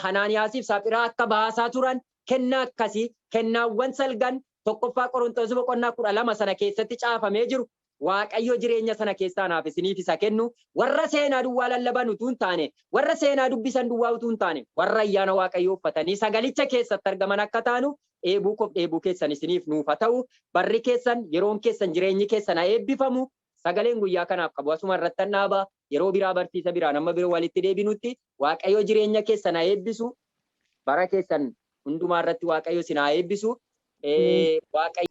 Hanaaniyaasiif Saphiraa akka baasaa turan kennaa akkasii, kennaawwan salgan 1ffaa Qorontos boqonnaa 12 sana keessatti caafamee jiru, Waaqayyo jireenya sana keessaa anaaf isiniif isa kennu, warra seenaa duwwaa lallaban utuu hin taane, warra seenaa dubbisan duwwaa utuu hin taane, warra ayyaana Waaqayyoo uffatanii sagalicha keessatti argaman akka taanuuf, dheebuu koof dheebuu keessan isiniif nuuf haa ta'u, barri keessan, yeroon keessan, jireenyi keessan haa eebbifamu, Sagaleen guyyaa kanaaf qabu asuma irrattan dhaaba. Yeroo biraa barsiisa biraan amma biro walitti deebinutti Waaqayyo jireenya keessan haa eebbisu. Bara keessan hundumaa irratti Waaqayyo isin haa eebbisu. Waaqayyo